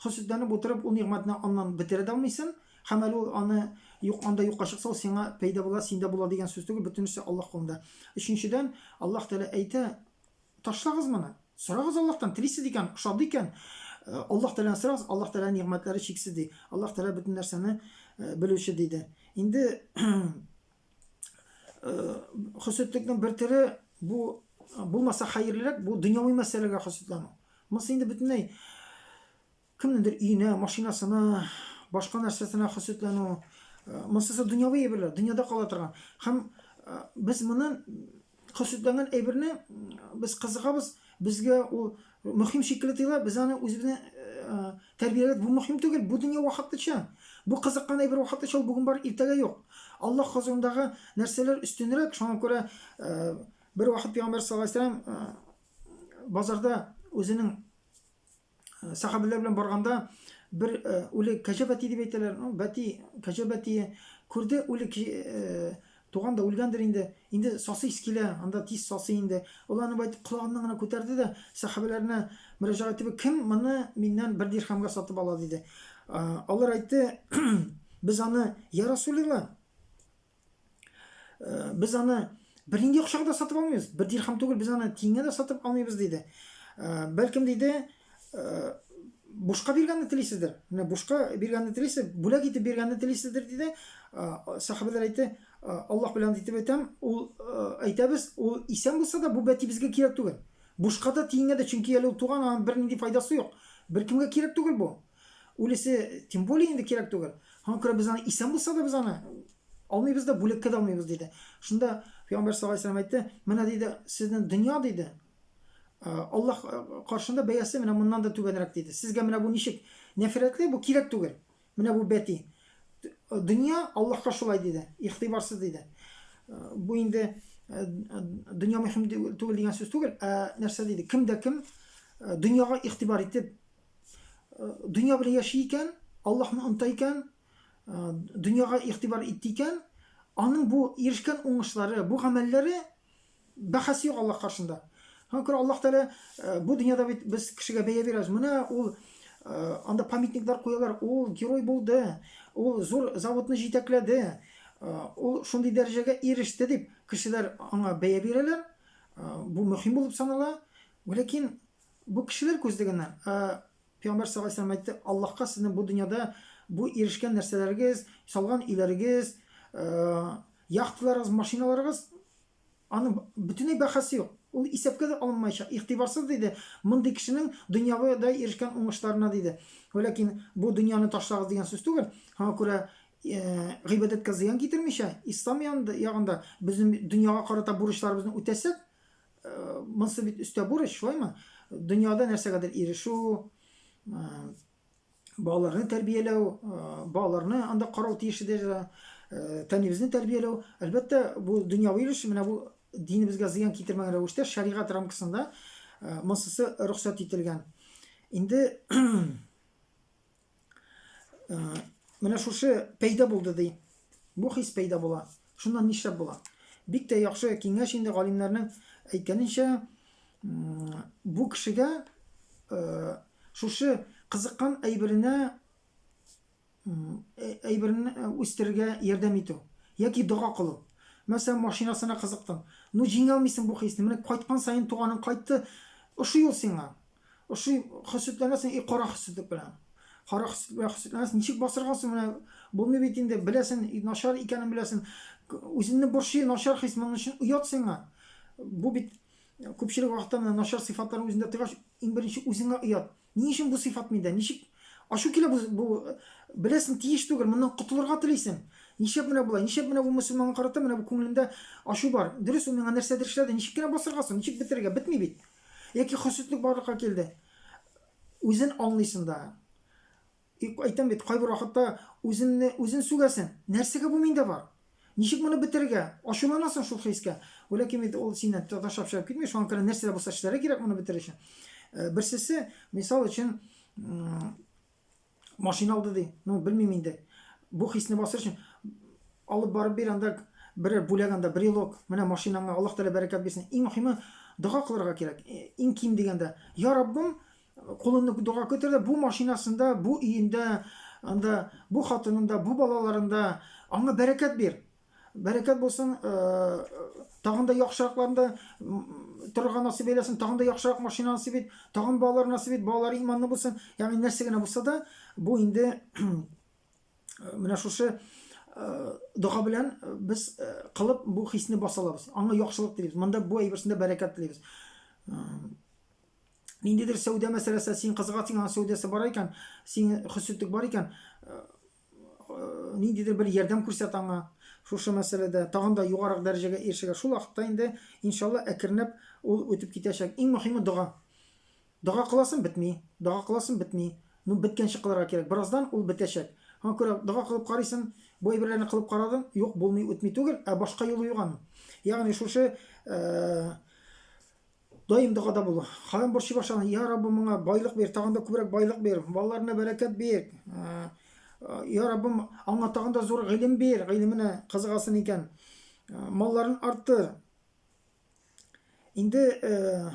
хөсетләнеп утырып, ул нигъмәтне аннан бетерә дә алмыйсың. Һәм әле ул аны юк, анда юкка чыкса, ул сиңа пәйда була, синдә була дигән сүз түгел, бөтенесе Аллаһ кулында. Өченчедән, Аллаһ Тәгалә әйтә, ташлагыз моны. Сорагыз Аллаһтан, телисез икән, ошады икән, Аллаһ Тәгаләне сорагыз, Аллаһ Тәгалә нигъмәтләре чиксез ди. Аллаһ Тәгалә бөтен нәрсәне белүче диде. Инде хөсетлекнең бер төре бу булмаса хәерлерәк бу дөньяви мәсьәләгә хөсетләнү монысы инде бөтенләй кемнеңдер өенә машинасына башка нәрсәсенә хөсетләнү монысы дөньяви әйберләр дөньяда кала торган һәм без моны Хаситланган әйберне без кызыгабыз, безгә ул мөһим шикелле тоела, без аны үзебезне тәрбияләп, бу мөһим түгел, бу дөнья вакытлыча. Бу кызыккан әйбер вакытлыча, ул бүген бар, иртәгә юк. Аллаһ хозурындагы нәрсәләр өстенрәк, шуңа күрә бер вакыт пәйгамбәр саллаллаһу алейһи ва сәлләм базарда үзенең сахабилар белән барганда бер үле кәҗә бәти дип әйтәләр бәти кәҗә бәти күрде үле туган да үлгәндер инде инде сасыйс килә анда тиз сасы инде ул аны байтып колагыннан гына күтәрде дә сахабиләренә мөрәҗәгать итеп кем моны миннән бер дирхәмгә сатып ала диде алар әйтте без аны я расулилла Э, без аны бер нинди акчага да сатып алмыйбыз. Бер дирхам түгел, без аны тиңгә дә сатып алмыйбыз диде. Э, бәлкем диде, э, бушка биргәнне телисездер. Менә бушка биргәнне телисез, бүләк итеп биргәнне телисездер диде. Сахабәләр әйтте, Аллаһ белән итеп әйтәм, ул әйтәбез, ул исән булса да бу бәти безгә кирәк түгел. Бушка да тиңгә дә, чөнки әле ул туган, аның бер нинди файдасы юк. Беркемгә кирәк түгел бу. Үлесе, тем более инде кирәк түгел. Һәм күрә без аны исән булса да без аны алмыйбыз да, бүлеккә дә алмыйбыз диде. Шунда Пәйгамбәр саллаллаһу алейһи ва әйтте, менә диде, сезнең дөнья диде, Аллаһ каршында бәясе менә моннан да түбәнрәк диде. Сезгә менә бу ничек? Нәфрәтле бу кирәк түгел. Менә бу бәти. Дөнья Аллаһка шулай диде, ихтибарсыз диде. Бу инде дөнья мөһим түгел дигән сүз түгел, ә нәрсә диде? Кем дә кем дөньяга ихтибар итеп дөнья белән яши икән, Аллаһны оныта икән, дөньяга игътибар итте икән, аның бу ирешкән уңышлары, бу гамәлләре бәхәс юк Аллаһ каршында. Һәм күрә Аллаһ Тәгалә э, бу дөньяда бит без кешегә бәя бирәбез. Менә ул э, анда памятниклар куялар. Ул герой булды. Ул зур заводны җитәкләде. Э, ул шундый дәрәҗәгә иреште дип кешеләр аңа бәя бирәләр. Бу мөһим булып санала. Ләкин Бу кешеләр күзлегеннән, ә Пәйгамбәр саллаллаһу алейһи ва сәлләм әйтте, Аллаһка сезнең бу дөньяда бу ирешкән нәрсәләрегез, салган өйләрегез, яхталарыгыз, машиналарыгыз, аның бөтенләй бәхәсе юк. Ул исәпкә дә алынмаячак. Игътибарсыз диде, мондый кешенең дөньяда ирешкән уңышларына диде. Ләкин бу дөньяны ташлагыз дигән сүз түгел. Аңа күрә гыйбадәткә зыян китермичә, ислам ягында безнең дөньяга карата бурычларыбызны үтәсәк, Э, монсы бит өстә бурыч, шулаймы? Дөньяда нәрсәгәдер ирешү, э, балаларны тәрбияләү, э, балаларны анда карау тиеш иде, тәнебезне тәрбияләү. Әлбәттә, бу дөньяви өлеш, менә бу динебезгә зыян китермәгән рәвештә шәригать рамкасында монсысы рөхсәт ителгән. Инде Э, менә шушы пәйда булды ди. Бу хис пәйда була. Шуннан нишләп була? Бик тә яхшы киңәш инде галимнәрнең әйткәненчә, бу кешегә э, шушы кызыккан әйберенә э, әйберне үстерергә ярдәм итү яки дога кылу. Мәсәлән, машинасына кызыктың. Ну, җиңә алмыйсың бу хисне. Менә кайткан саен туганың кайтты. Ошый ул сиңа. Ошый хөсетләнәсең и кара хөсетлек белән. Кара хөсетлек белән хөсетләнәсең. Ничек басыргансың менә? Булмый бит инде, беләсен, начар икәнен беләсен. Үзеңне борчый, начар хис, моның өчен оят сиңа. Бу бит күпчелек вакытта менә начар сыйфатлар үзендә тыгач, иң беренче үзеңә оят. Ни өчен бу сыйфат миндә? Ничек ачу килә бу, бу беләсен тиеш түгел, моннан котылырга телисең. Ничек менә болай? Ничек менә бу мусульманга карата менә бу күңелендә ачу бар? Дөрес, ул миңа нәрсәдер эшләде, ничек кенә басыргансың, ничек бетерергә? Бетми бит. Яки хөсетлек барлыкка килде. Үзен аңлыйсың да. Әйтәм бит, кайбер вакытта үзеңне үзен сүгәсең. Нәрсәгә бу миндә бар? Ничек моны бетерергә? Ачуланасың шул хискә. Ләкин бит ул синнән ташлап чыгып китми, шуңа күрә нәрсә дә булса эшләргә кирәк моны бетерер өчен. Э, берсесе, мисал өчен, Машина алды ди. Ну, белмим инде. Бу хисне басыр өчен алып барып бир анда бер бүләк анда брелок. Менә машинаңа Аллаһ Тәгалә бәрәкәт бирсен. Иң мөһиме дога кылырга кирәк. Э, иң ким дигәндә, я Раббым, кулыңны дога көтер бу машинасында, бу өендә, анда бу хатынында, бу балаларында аңа бәрәкәт бир. Бәрәкәт булсын, тагын да яхшыракларында торырга насыйп әйләсен, тагын да яхшырак машина насыйп ит, тагын балалар насыйп ит, балалар иманлы булсын. Ягъни нәрсә генә булса да, бу инде менә шушы дога белән без кылып бу хисне баса алабыз. Аңа яхшылык телибез. Монда бу әйберсендә бәрәкәт телибез. Ниндидер сәүдә мәсьәләсе, син кызыга тиңгән сәүдәсе бар икән, син хөсетлек бар икән, ниндидер бер ярдәм күрсәт аңа шушы мәсьәләдә тагын да югарак дәрәҗәгә ирешергә шул вакытта инде иншалла әкренләп ул үтеп китәчәк иң мөһиме дога дога кыласың бетми дога кыласың бетми ну беткәнче кылырга кирәк бераздан ул бетәчәк аңа күрә дога кылып карыйсың бу әйберләрне кылып карадың юк булмый үтми түгел ә башка юлы юк аның ягъни шушы э, Даим догада бул. Харам борчый башлана. Я Раббым, моңа байлык бир, тагын да күбрәк байлык бир. Балаларына бәрәкәт бир. Ә, Я Раббым, аңа тагын да зур гыйлем бир, гыйлеменә кызыгасын икән. Ә, малларын арттыр. Инде э,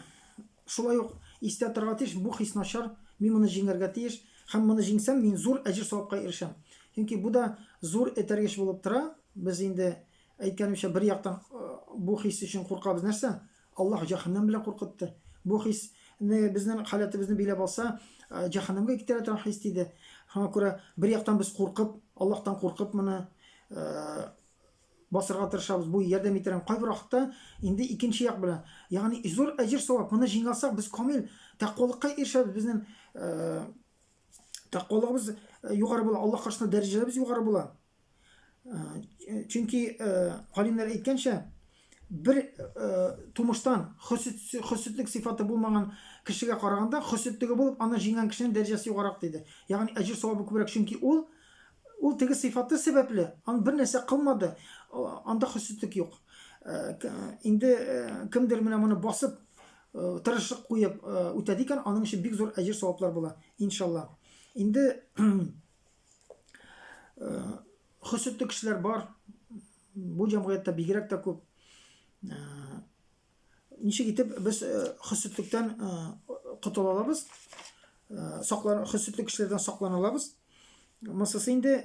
шулай ук истә торырга тиеш, бу хис начар, мин моны җиңәргә тиеш, һәм моны җиңсәм, мин зур әҗер савапка ирешәм. Чөнки бу да зур этәргеч булып тора. Без инде әйткәнемчә, бер яктан э, бу хис өчен куркабыз нәрсә? Аллаһ җәһәннәм белән куркытты. Бу хис не безнең халәтебезне биләп алса, җәһәннәмгә китерә торган хис диде. Шуңа күрә бер яктан без куркып, Аллаһтан куркып моны басырга тырышабыз. Бу ярдәм итәргә кайбер вакытта инде икенче як белән, ягъни зур әҗер савап моны җиңалсак, без камил тәкъвалыкка ирешәбез. Безнең тәкъвалыгыбыз югары була, Аллаһ каршында дәрәҗәләребез югары була. Чөнки галимнәр әйткәнчә, бер тумыштан хөсетлек сыйфаты булмаган кешегә караганда, хөсетлеге булып, аны җиңгән кешенең дәрәҗәсе югарак диде. Ягъни әҗер савабы күбрәк, чөнки ул ул теге сыйфаты сәбәпле, ан бер нәрсә кылмады, анда хөсетлек юк. Инде кемдер менә моны басып, тырышлык куеп үтәде икән, аның өчен бик зур әҗер саваплар була, иншалла. Инде Хөсетле кешеләр бар. Бу җәмгыятьтә бигрәк тә күп. Ничек итеп без хөсетлектән котыла алабыз? Саклан хөсетле кешеләрдән саклана алабыз. Мосысы инде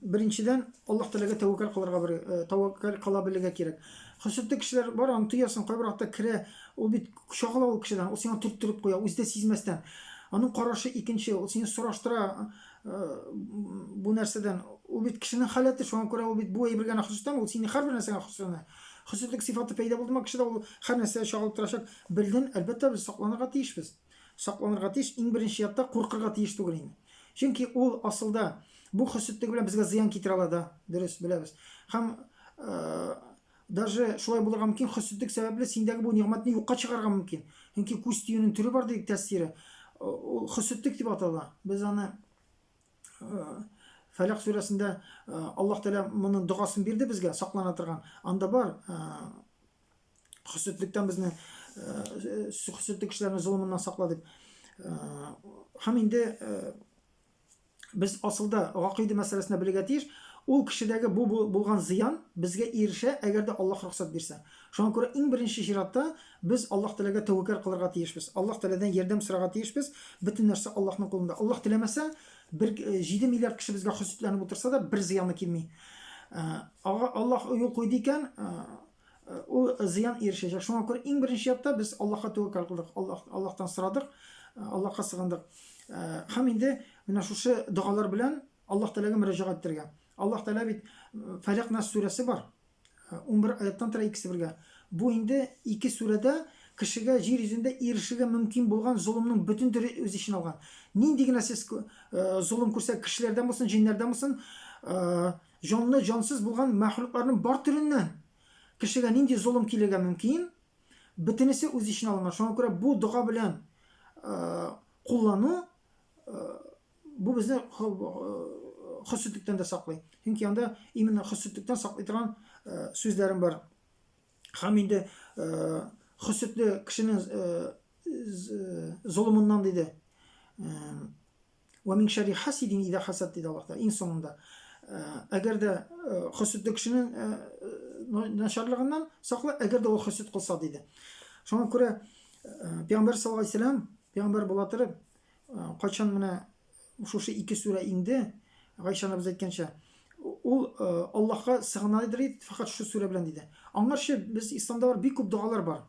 беренчедән Аллаһ Тәгаләгә тәвәккәл кылырга бер тәвәккәл кыла белергә кирәк. Хөсетле кешеләр бар, аны тоясың, кайбер вакытта керә, ул бит чагыла ул кешедән, ул сиңа төрттереп куя, үзе дә сизмәстән. Аның карашы икенче, ул сине сораштыра, бу нәрсәдән ул бит кешенең халәте шуңа күрә ул бит бу әйбер генә хосустан ул сине һәрбер нәрсәгә хосусына хосуслык сыйфаты пәйда булдымы кешедә ул һәр нәрсә чагылып торачак бердән әлбәттә без сакланырга тиешбез сакланырга тиеш иң беренче ятта куркырга тиеш түгел инде чөнки ул асылда бу хосуслыгы белән безгә зыян китерә ала да дөрес беләбез һәм Даже шулай булырга мөмкин, хөссезлек сәбәпле синдәге бу нигъмәтне юкка чыгарга мөмкин. Чөнки күз тиюнең төре бар дидек тәсире. Ул хөссезлек дип атала. Без аны Фәләк сүрәсендә Аллаһ Тәгалә моның догасын бирде безгә, саклана торган. Анда бар хөссезлектән безне хөссезлек кешеләрне золымыннан сакла дип. Һәм инде без асылда гакыйдә мәсьәләсенә белергә тиеш, ул кешедәге бу булган зыян безгә ирешә, әгәр дә Аллаһ рөхсәт бирсә. Шуңа күрә иң беренче чиратта без Аллаһ Тәгаләгә тәвәккәл кылырга тиешбез. Аллаһ Тәгаләдән ярдәм сорарга тиешбез. Бөтен нәрсә Аллаһның кулында. Аллаһ теләмәсә, бер 7 миллиард кеше безгә хөсетләнеп утырса да, бер зыяны килми. Ага Аллаһ юл куйды икән, Ул зыян ирешәчәк. Шуңа күрә иң беренче чиратта без Аллаһка тәвәккәл кылдык, Аллаһ, Аллаһтан сорадык, Аллаһка сыгындык. Һәм инде менә шушы догалар белән Аллаһ Тәгаләгә мөрәҗәгать итәргә. Аллаһ Тәгалә бит Фәләк Нас сүрәсе бар. 11 аяттан тора икесе бергә. Бу инде ике сүрәдә кешегә җир йөзендә ирешергә мөмкин булган золымның бөтен төре үз ичен алган. Нинди генә сез золым күрсә, кешеләрдән булсын, җиннәрдән булсын, Җанлы, җансыз булган мәхлукларның бар төреннән кешегә нинди золым килергә мөмкин, бөтенесе үз эченә алынган. Шуңа күрә бу дога белән куллану бу безне хөсетлектән дә саклый. Чөнки анда именно хөсетлектән саклый торган сүзләрем бар. Һәм инде хөсетле кешенең золымыннан диде. Вә мин шәрри хасидин идә хасад диде Аллаһ Тәгалә иң соңында. Э, әгәр дә э, хөсетле кешенең э, начарлыгыннан сакла, әгәр дә ул хөсет кылса диде. Шуңа күрә Пәйгамбәр саллаллаһу алейһи вәсәләм, пәйгамбәр була торып, кайчан менә шушы ике сүрә инде, Гайша анабыз әйткәнчә, ул Аллаһка сыгына иде, фәкать шу сүрә белән диде. Аңарчы без исламда бар бик күп догалар бар.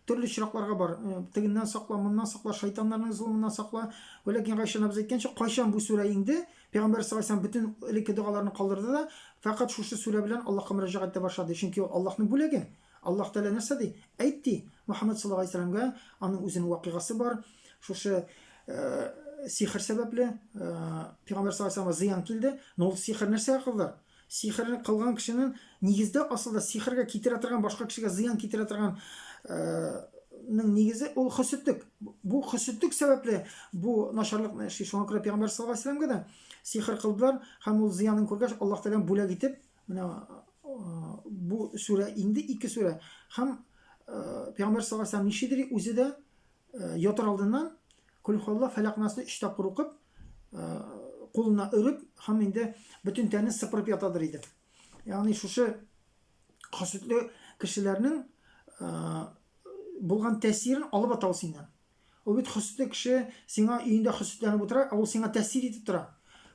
Төрле очракларга бар. Э, тегеннән сакла, моннан сакла, шайтаннарның золымыннан сакла. Вәләкин Гайшә абыз әйткәнчә, кайчан бу сүрә инде, Пәйгамбәр саллаллаху алейһи бөтен элекке догаларны калдырды да, фәкать шушы сүрә белән Аллаһка мөрәҗәгать итә башлады. Чөнки ул Аллаһның бүләге. Аллаһ Тәгалә нәрсә ди? Әйт ди, Мөхәммәд саллаллаху алейһи вәсәлләмгә аның үзенең вакыйгасы бар. Шушы э, сихр сәбәпле э, Пәйгамбәр саллаллаху алейһи зыян килде. Но ул сихр нәрсә кылды? Сихерне кылган кешенең нигездә асылда сихергә китерә торган башка кешегә зыян китерә торган ның нигезе ул хөсетлек. Бу хөсетлек сәбәпле бу начарлыкны эшли. Шуңа күрә пәйгамбәр саллаллаһу алейһи вәсәләмгә дә сихер кылдылар һәм ул зыянын күргәч Аллаһ Тәгаләм бүләк итеп менә бу сүрә инде ике сүрә һәм пәйгамбәр саллаллаһу алейһи вәсәләм ничедер үзе дә ятар алдыннан кулхалла фәләк насны өч тапкыр укып кулына өреп һәм инде бөтен тәнен сыпырып ятадыр иде. Ягъни шушы хаситле кешеләрнең булган тәсирен алып атау синнән. Ул бит хөсетле кеше сиңа өендә хөсетләнеп утыра, ә ул сиңа тәсир итеп тора.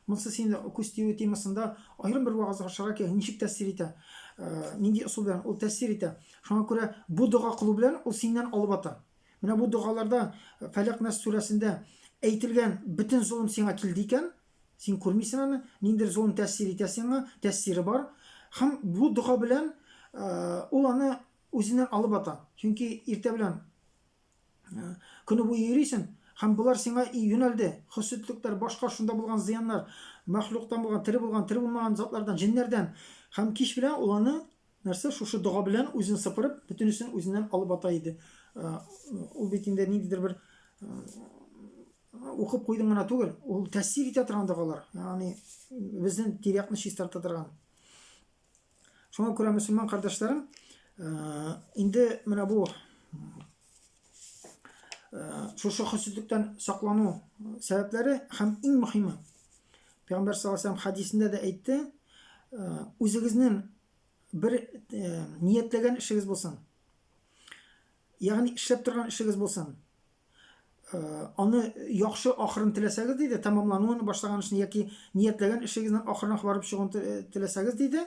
Монсы сине күз тию темасында аерым бер вагыз ашарга кирәк. Ничек тәсир итә? Нинди ысул белән ул тәсир итә? Шуңа күрә бу дога кылу белән ул синнән алып ата. Менә бу догаларда Фәләк Нас сүрәсендә әйтелгән бөтен золым сиңа килде икән, син күрмисең аны, ниндер золым тәэсир итә сиңа, тәэсире бар. Һәм бу дога белән ул аны үзеннән алып ата. Чөнки иртә белән көне буе йөрисең, һәм болар сиңа юнәлде. Хөсетлекләр, башка шунда булган зыяннар, мәхлуктан булган, тере булган, тере булмаган затлардан, җеннәрдән. Һәм кич белән ул аны Нәрсә, шушы дога белән үзен сыпырып, бөтенесен үзеннән алып ата иде. Ул бит инде ниндидер бер укып куйдым гына түгел, ул тәэсир итә торган догалар. Ягъни безнең тирәкне чистарта торган. Шуңа күрә мөселман кардәшләрем, инде менә бу шушы хөсетлектән саклану сәбәпләре һәм иң мөһиме пәйгамбәр саллаллаху алейһи хәдисендә дә әйтте үзегезнең бер ниятләгән эшегез булсын ягъни эшләп торган эшегез булсын аны яхшы ахырын теләсәгез диде тәмамлануын башлаган эшне яки ниятләгән эшегезнең ахырына барып чыгуын теләсәгез диде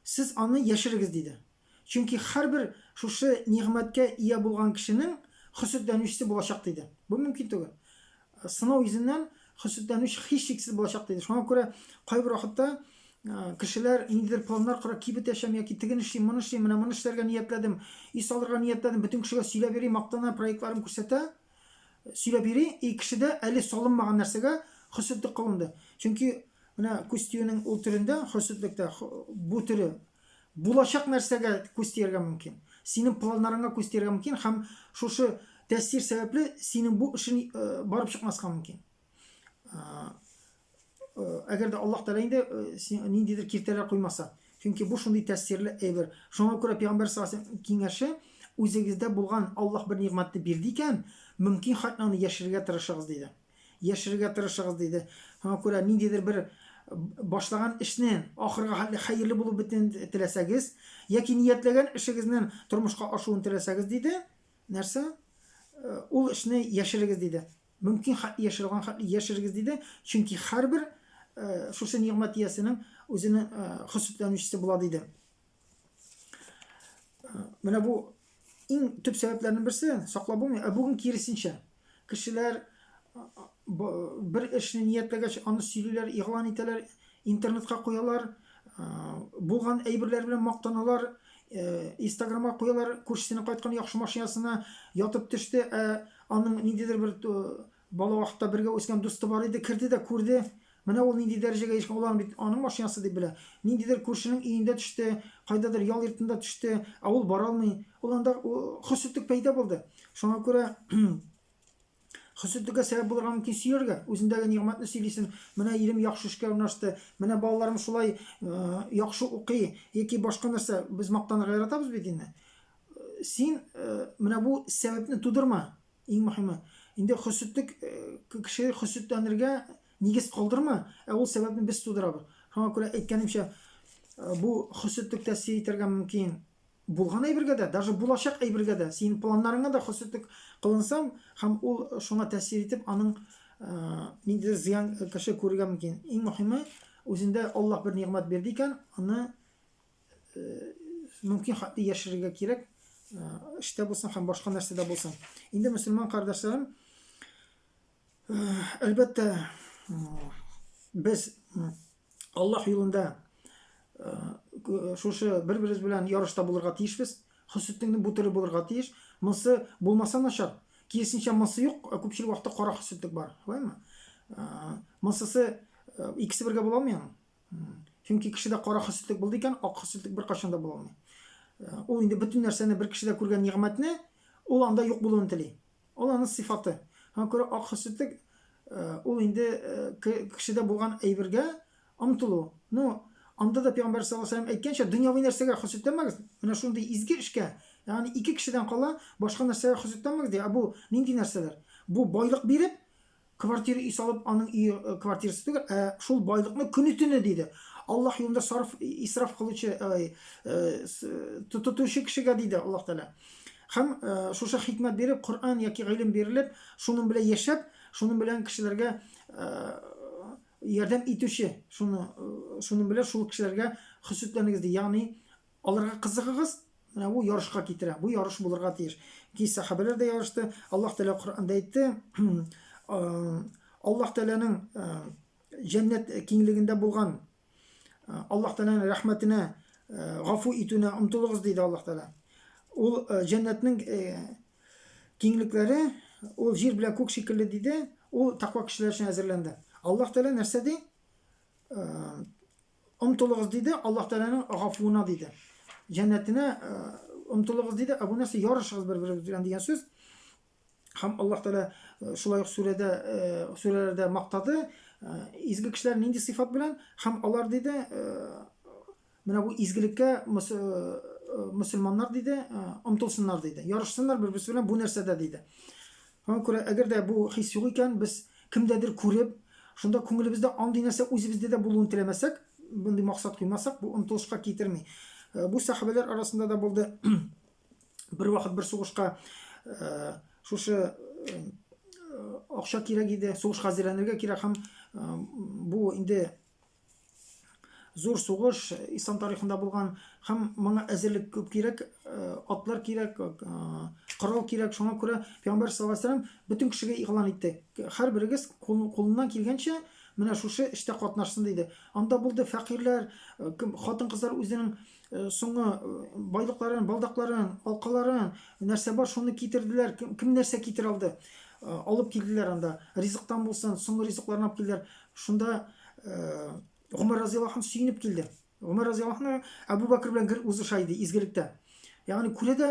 сез аны яшерегез диде Чөнки һәрбер шушы нигъмәткә ия булган кешенең хөсетләнүчесе булачак, диде. Бу мөмкин түгел. Сынау йөзеннән хөсетләнүче һичшиксез булачак, диде. Шуңа күрә кайбер вакытта кешеләр ниндидер планнар кора, кибет ачам яки тегене эшлим, моны эшлим, менә моны эшләргә ниятләдем, өй салырга ниятләдем, бөтен кешегә сөйләп йөри, мактана, проектларын күрсәтә, сөйләп йөри, и кешедә әле салынмаган нәрсәгә хөсетлек кылынды. Чөнки менә күз тиюнең ул төрендә, хөсетлектә, бу төре Булачак нәрсәгә күз тияргә мөмкин? Синең планнарыңа күз тияргә мөмкин һәм шушы тәэсир сәбәпле синең бу эшең э, барып чыкмаска мөмкин. Э, э, әгәр дә Аллаһ Тәгалә инде ниндидер киртәләр куймаса. Чөнки бу шундый тәэсирле әйбер. Шуңа күрә пәйгамбәр саллаллаху киңәше үзегездә булган Аллаһ бер нигъмәтне бирде икән, мөмкин хәтле аны яшерергә тырышыгыз диде. Яшерергә тырышыгыз, диде. Шуңа күрә ниндидер бер башлаган эшне ахырга хәтле хәерле булып бетүен теләсәгез, яки ниятләгән эшегезнең тормышка ашуын теләсәгез, диде, нәрсә? Э, ул эшне яшерегез, диде. Мөмкин хәтле яшерелгән хәтле яшерегез, диде, чөнки һәрбер э, шушы нигъмәт иясенең үзенең э, хөсетләнүчесе була, диде. Менә бу иң төп сәбәпләрнең берсе, саклап булмый, ә бүген киресенчә. Кешеләр бер эшне ниятләгәч, аны сөйлиләр, игълан итәләр, интернетка куялар, булган әйберләр белән мактаналар, Инстаграмга куялар, күршесенең кайткан яхшы машинасына ятып төште, ә аның ниндидер бер Бала вакытта бергә үскән дусты бар иде, керде дә күрде, менә ул нинди дәрәҗәгә ирешкән, ул аны бит аның машинасы дип белә. Ниндидер күршенең өендә төште, кайдадыр ял йортында төште, ә ул бара алмый. Ул анда хөсетлек пәйда булды. Шуңа күрә хөсетлеккә сәбәп булырга мөмкин сөяргә, үзендәге нигъмәтне сөйлисен, менә ирем яхшы эшкә урнашты, менә балаларым шулай яхшы укый, яки башка нәрсә, без мактанырга яратабыз бит инде. Син менә бу сәбәпне тудырма, Иң мөһиме, инде хөсетлек кеше хөсетләнергә нигез калдырма, ә ул сәбәпне без тудырабыз. Шуңа күрә әйткәнемчә, бу хөсетлек тәэсир итәргә мөмкин. Булган әйбергә дә, даже булачак әйбергә дә, синең планнарыңа да хөсетлек кылынса һәм ул шуңа тәэсир итеп, аның ниндидер зыян кеше күрергә мөмкин. Иң мөһиме, үзендә Аллаһ бер нигъмәт бирде икән, аны мөмкин хатны яшерергә кирәк эштә булсын һәм башка нәрсәдә булсын инде мөселман кардәшләрем әлбәттә без аллаһ юлында шушы бер беребез белән ярышта булырга тиешбез хөсетеңне бу төре булырга тиеш монысы булмаса начар киресенчә монысы юк күпчелек вакытта кара хөсетлек бар шулаймы монсысы икесе бергә була алмый Чөнки кешедә кара хөсетлек булды икән, ак хөсетлек беркайчан да була алмый. Э, ул инде бөтен нәрсәне бер кешедә күргән нигъмәтне ул анда юк булуын тели. Ул аның сыйфаты. Һәм күрә ак хөсетлек э, ул инде э, кешедә булган әйбергә омтылу. Ну, анда да пәйгамбәр саллаллаһу алейһи ва сәлләм әйткәнчә, дөньяви нәрсәгә хөсетләмәгез. Менә шундый изге эшкә, ягъни ике кешедән кала, башка нәрсәгә хөсетләмәгез ди. Ә бу нинди нәрсәләр? Бу байлык биреп, Квартира өй салып, аның өе квартирасы түгел, ә шул байлыкны көне-төне диде. Аллаһ юлында сарыф исраф кылучы, ай, тотучы кешегә диде Аллаһ Тәгалә. Хәм шушы хикмәт биреп, Коръән яки гыйлем бирелеп, шуның белән яшәп, шуның белән кешеләргә ярдәм итүче, шуны шуның белән шул кешеләргә хөсетләнегез ди. Ягъни аларга кызыгыгыз, Менә бу ярышка китерә. Бу ярыш булырга тиеш. Ки сәхабәләр дә ярышты. Аллаһ Тәгалә Коръәндә әйтте, Аллаһ Тәгаләнең җәннәт киңлегендә булган Аллаһ Тәгаләнең рәхмәтенә гафу итүенә омтылыгыз диде Аллаһ Тәгалә. Ул җәннәтнең киңлекләре ул җир белән күк шикелле диде. Ул таква кешеләр өчен әзерләнде. Аллаһ Тәгалә нәрсә ди? Омтылыгыз, диде, Аллаһ Тәгаләнең гафуына, диде. Җәннәтенә омтылыгыз, диде, ә бу нәрсә ярышыгыз бер-берегез белән дигән сүз. Һәм Аллаһ Тәгалә шулай ук сүрәдә, сүрәләрдә мактады, изге кешеләр нинди сыйфат белән һәм алар диде, менә бу изгелеккә мөселманнар диде, омтылсыннар диде. Ярышсыннар бер-берсе белән бу нәрсәдә диде. Аңа күрә, әгәр дә бу хис юк икән, без кемдәдер күреп, шунда күңелебездә андый нәрсә үзебездә дә булуын теләмәсәк, мондый максат куймасак, бу омтылышка китерми. Бу сәхабәләр арасында да булды. Бервакыт бер сугышка шушы акча кирәк иде, сугышка әзерләнергә кирәк һәм бу инде зур сугыш ислам тарихында булган һәм моңа әзерлек күп кирәк атлар кирәк корал кирәк шуңа күрә пәйгамбәр саллаллаху алейһи вәсәләм бөтен кешегә игълан итте һәрберегез кулыннан килгәнчә менә шушы эштә катнашсын диде анда булды фәкыйрьләр хатын кызлар үзенең соңгы байлыкларын балдакларын алкаларын нәрсә бар шуны китерделәр кем нәрсә китерә алды алып килделәр анда ризыктан булсын соңгы ризыкларын алып килделәр Шунда Гомәр разыяллаһу анһу сөенеп килде. Гомәр разыяллаһу анһу Әбу Бәкер белән гел узыша иде изгелектә. Ягъни күрә дә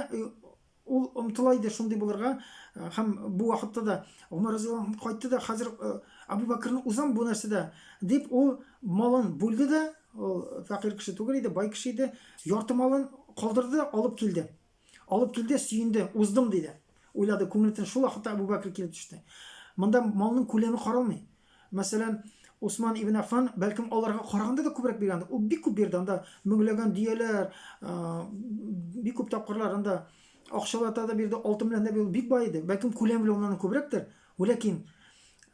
ул омтыла иде шундый булырга һәм бу вакытта да Гомәр разыяллаһу анһу кайтты да хәзер Әбу Бәкерне узам бу нәрсәдә дип ул малын бүлде дә, ул фәкыйрь кеше түгел иде, бай кеше иде, ярты малын калдырды, алып килде. Алып килде, сөенде, уздым, диде. Уйлады, күңелтен шул вакытта Әбүбәкер килеп төште. Монда малның күләме каралмый. Мәсәлән, Усман ибн Аффан бәлкем аларга караганда да күбрәк биргәндер. Ул бик күп бирде, анда меңләгән дөяләр, бик күп тапкырлар анда акчалата да бирде, алтын белән дә бирде, бик бай иде. Бәлкем күләм белән уннан күбрәктер. Вәләкин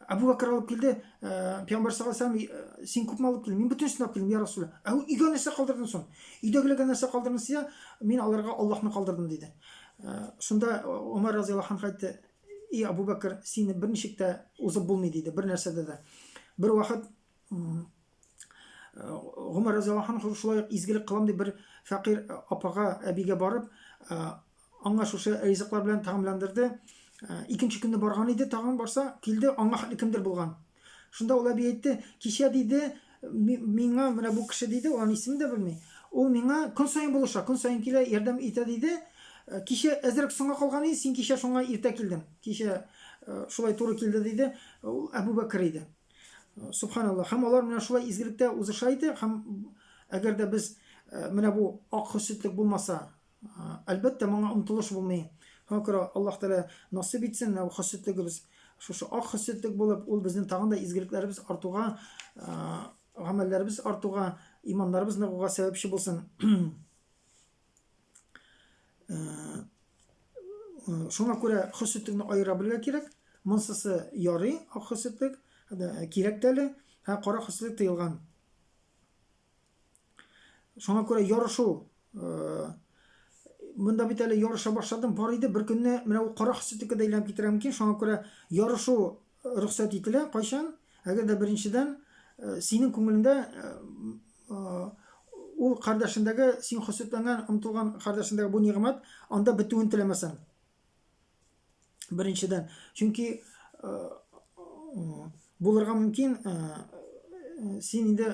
Абу Бәкер алып килде, Пәйгамбәр саллаллаху алейһи вәсәлләм, син күпме алып килдең? Мин бөтенесен алып килдем, я Расулла. Ә өйгә нәрсә калдырдың соң? Өйдәгеләргә нәрсә калдырдың сия? Мин аларга Аллаһны калдырдым диде. Шунда Умар разыяллаһу анһу әйтте, "И Абу Бәкер, сине берничек тә узып булмый" диде, бер нәрсәдә дә. Бер вакыт Умар разыяллаһу анһу шулай ук изгелек кылам дип бер фәкыйрь апага, әбигә барып, Аңа шушы ризыклар белән тәгамләндерде. Ә, икенче көнне барган иде, тагын барса, килде, аңа хәтле кемдер булган. Шунда ул әби әйтте, кичә диде, миңа менә бу кеше диде, ул аны исемен дә белми. Ул миңа көн саен булыша, көн саен килә, ярдәм итә диде. Э, кичә әзрәк соңга калган иде, син кичә шуңа иртә килдең. Кичә э, шулай туры килде диде. Ул Әбу Бәкер иде. Э, субханаллах. Һәм алар менә шулай изгелектә узыша иде. Һәм әгәр дә без менә бу ак хөсетлек булмаса, Әлбәттә, моңа омтылыш булмый. Хакыра Аллаһ Тәгалә насыйп итсен, ул хөсетлегебез шушы ак хөсетлек булып, ул безнең тагын да изгелекләребез артуга, гамәлләребез артуга, иманнарыбыз ныгуга сәбәпче булсын. Шуңа күрә хөсетлекне аера белергә кирәк. Монсысы ярый, ак хөсетлек, кирәк тәле, һәм кара хөсетлек тыелган. Шуңа күрә ярышу монда бит әле ярыша башладым, бар иде, бер көнне менә ул кара хасетикә дә әйләнеп китерә мөмкин, шуңа күрә ярышу рөхсәт ителә, кайчан? Әгәр дә беренчедән э, синең күңелеңдә э, э, ул кардәшендәге син хөсетләнгән, омтылган кардәшендәге бу нигъмәт анда бетүен теләмәсәң. Беренчедән, чөнки булырга мөмкин, син инде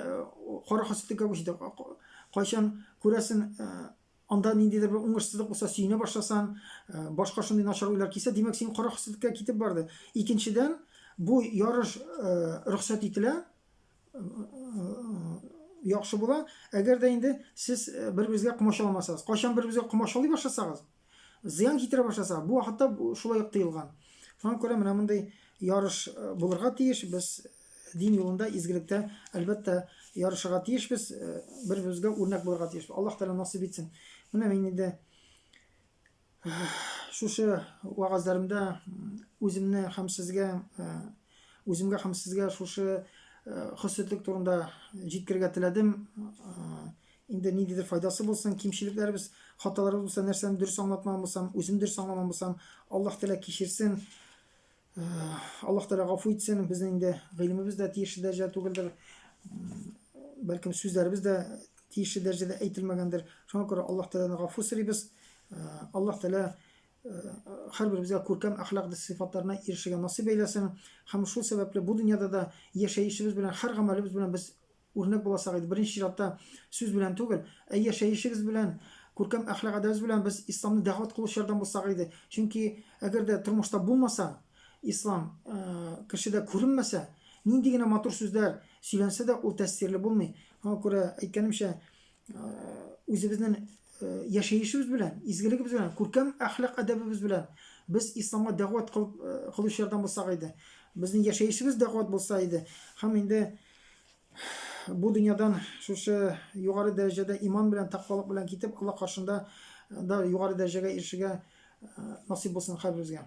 кара хасидлеккә күчтең. Кайчан күрәсен, анда ниндидер бер уңышсызлык булса, сөенә башласан, башка шундый начар уйлар килсә, димәк, син кара хасидлеккә китеп барды. Икенчедән, бу ярыш рөхсәт ителә, яхшы була, әгәр дә инде сез бер-берегезгә комачауламасагыз. Кайчан бер-берегезгә комачаулый башласагыз, зыян китерә башласа, бу вакытта шулай ук тыелган. Шуңа күрә менә мондый ярыш э, булырга тиеш. Без дин юлында, изгелектә, әлбәттә, ярышырга тиешбез, э, бер-беребезгә үрнәк булырга тиешбез. Аллаһ Тәгалә насыйп итсен. Менә мин инде э, шушы вагазларымда үземне һәм сезгә үземгә һәм сезгә шушы хөсетлек турында җиткергә теләдем. Инде ниндидер файдасы булсын, кимчелекләребез, хаталарыбыз булса, нәрсәне дөрес аңлатмаган булсам, үзем дөрес аңламаган булсам, Аллаһ Тәгалә кичерсен, Аллаһ Тәгалә гафу итсен, безнең инде гыйлемебез дә тиешле дәрәҗәдә түгелдер, бәлкем сүзләребез дә тиешле дәрәҗәдә әйтелмәгәндер. Шуңа күрә Аллаһ Тәгаләне гафу сорыйбыз. Аллаһ Тәгалә һәрберебезгә күркәм әхлак сыйфатларына ирешергә насыйп әйләсен һәм шул сәбәпле бу дөньяда да яшәешебез белән һәр гамәлебез белән без Үрнәк булачак иде. Беренче чиратта сүз белән түгел, ә яшәешегез белән, күркәм әхлак-әдәбез белән без исламны дәгъват кылучылардан булсак иде. Чөнки әгәр дә тормышта булмаса, ислам кешедә күренмәсә, нинди генә матур сүзләр сөйләнсә дә, ул тәэсирле булмый. Шуңа күрә әйткәнемчә, үзебезнең яшәешебез белән, изгелегебез белән, күркәм әхлак әдәбебез белән без исламга дәгъват кылып кылучылардан булсак иде. Безнең яшәешебез дәгъват булса иде. Һәм инде бу дөньядан шушы югары дәрәҗәдә иман белән, тәкъвалык белән китеп, Алла каршында да югары дәрәҗәгә ирешергә насыйп булсын һәрберебезгә.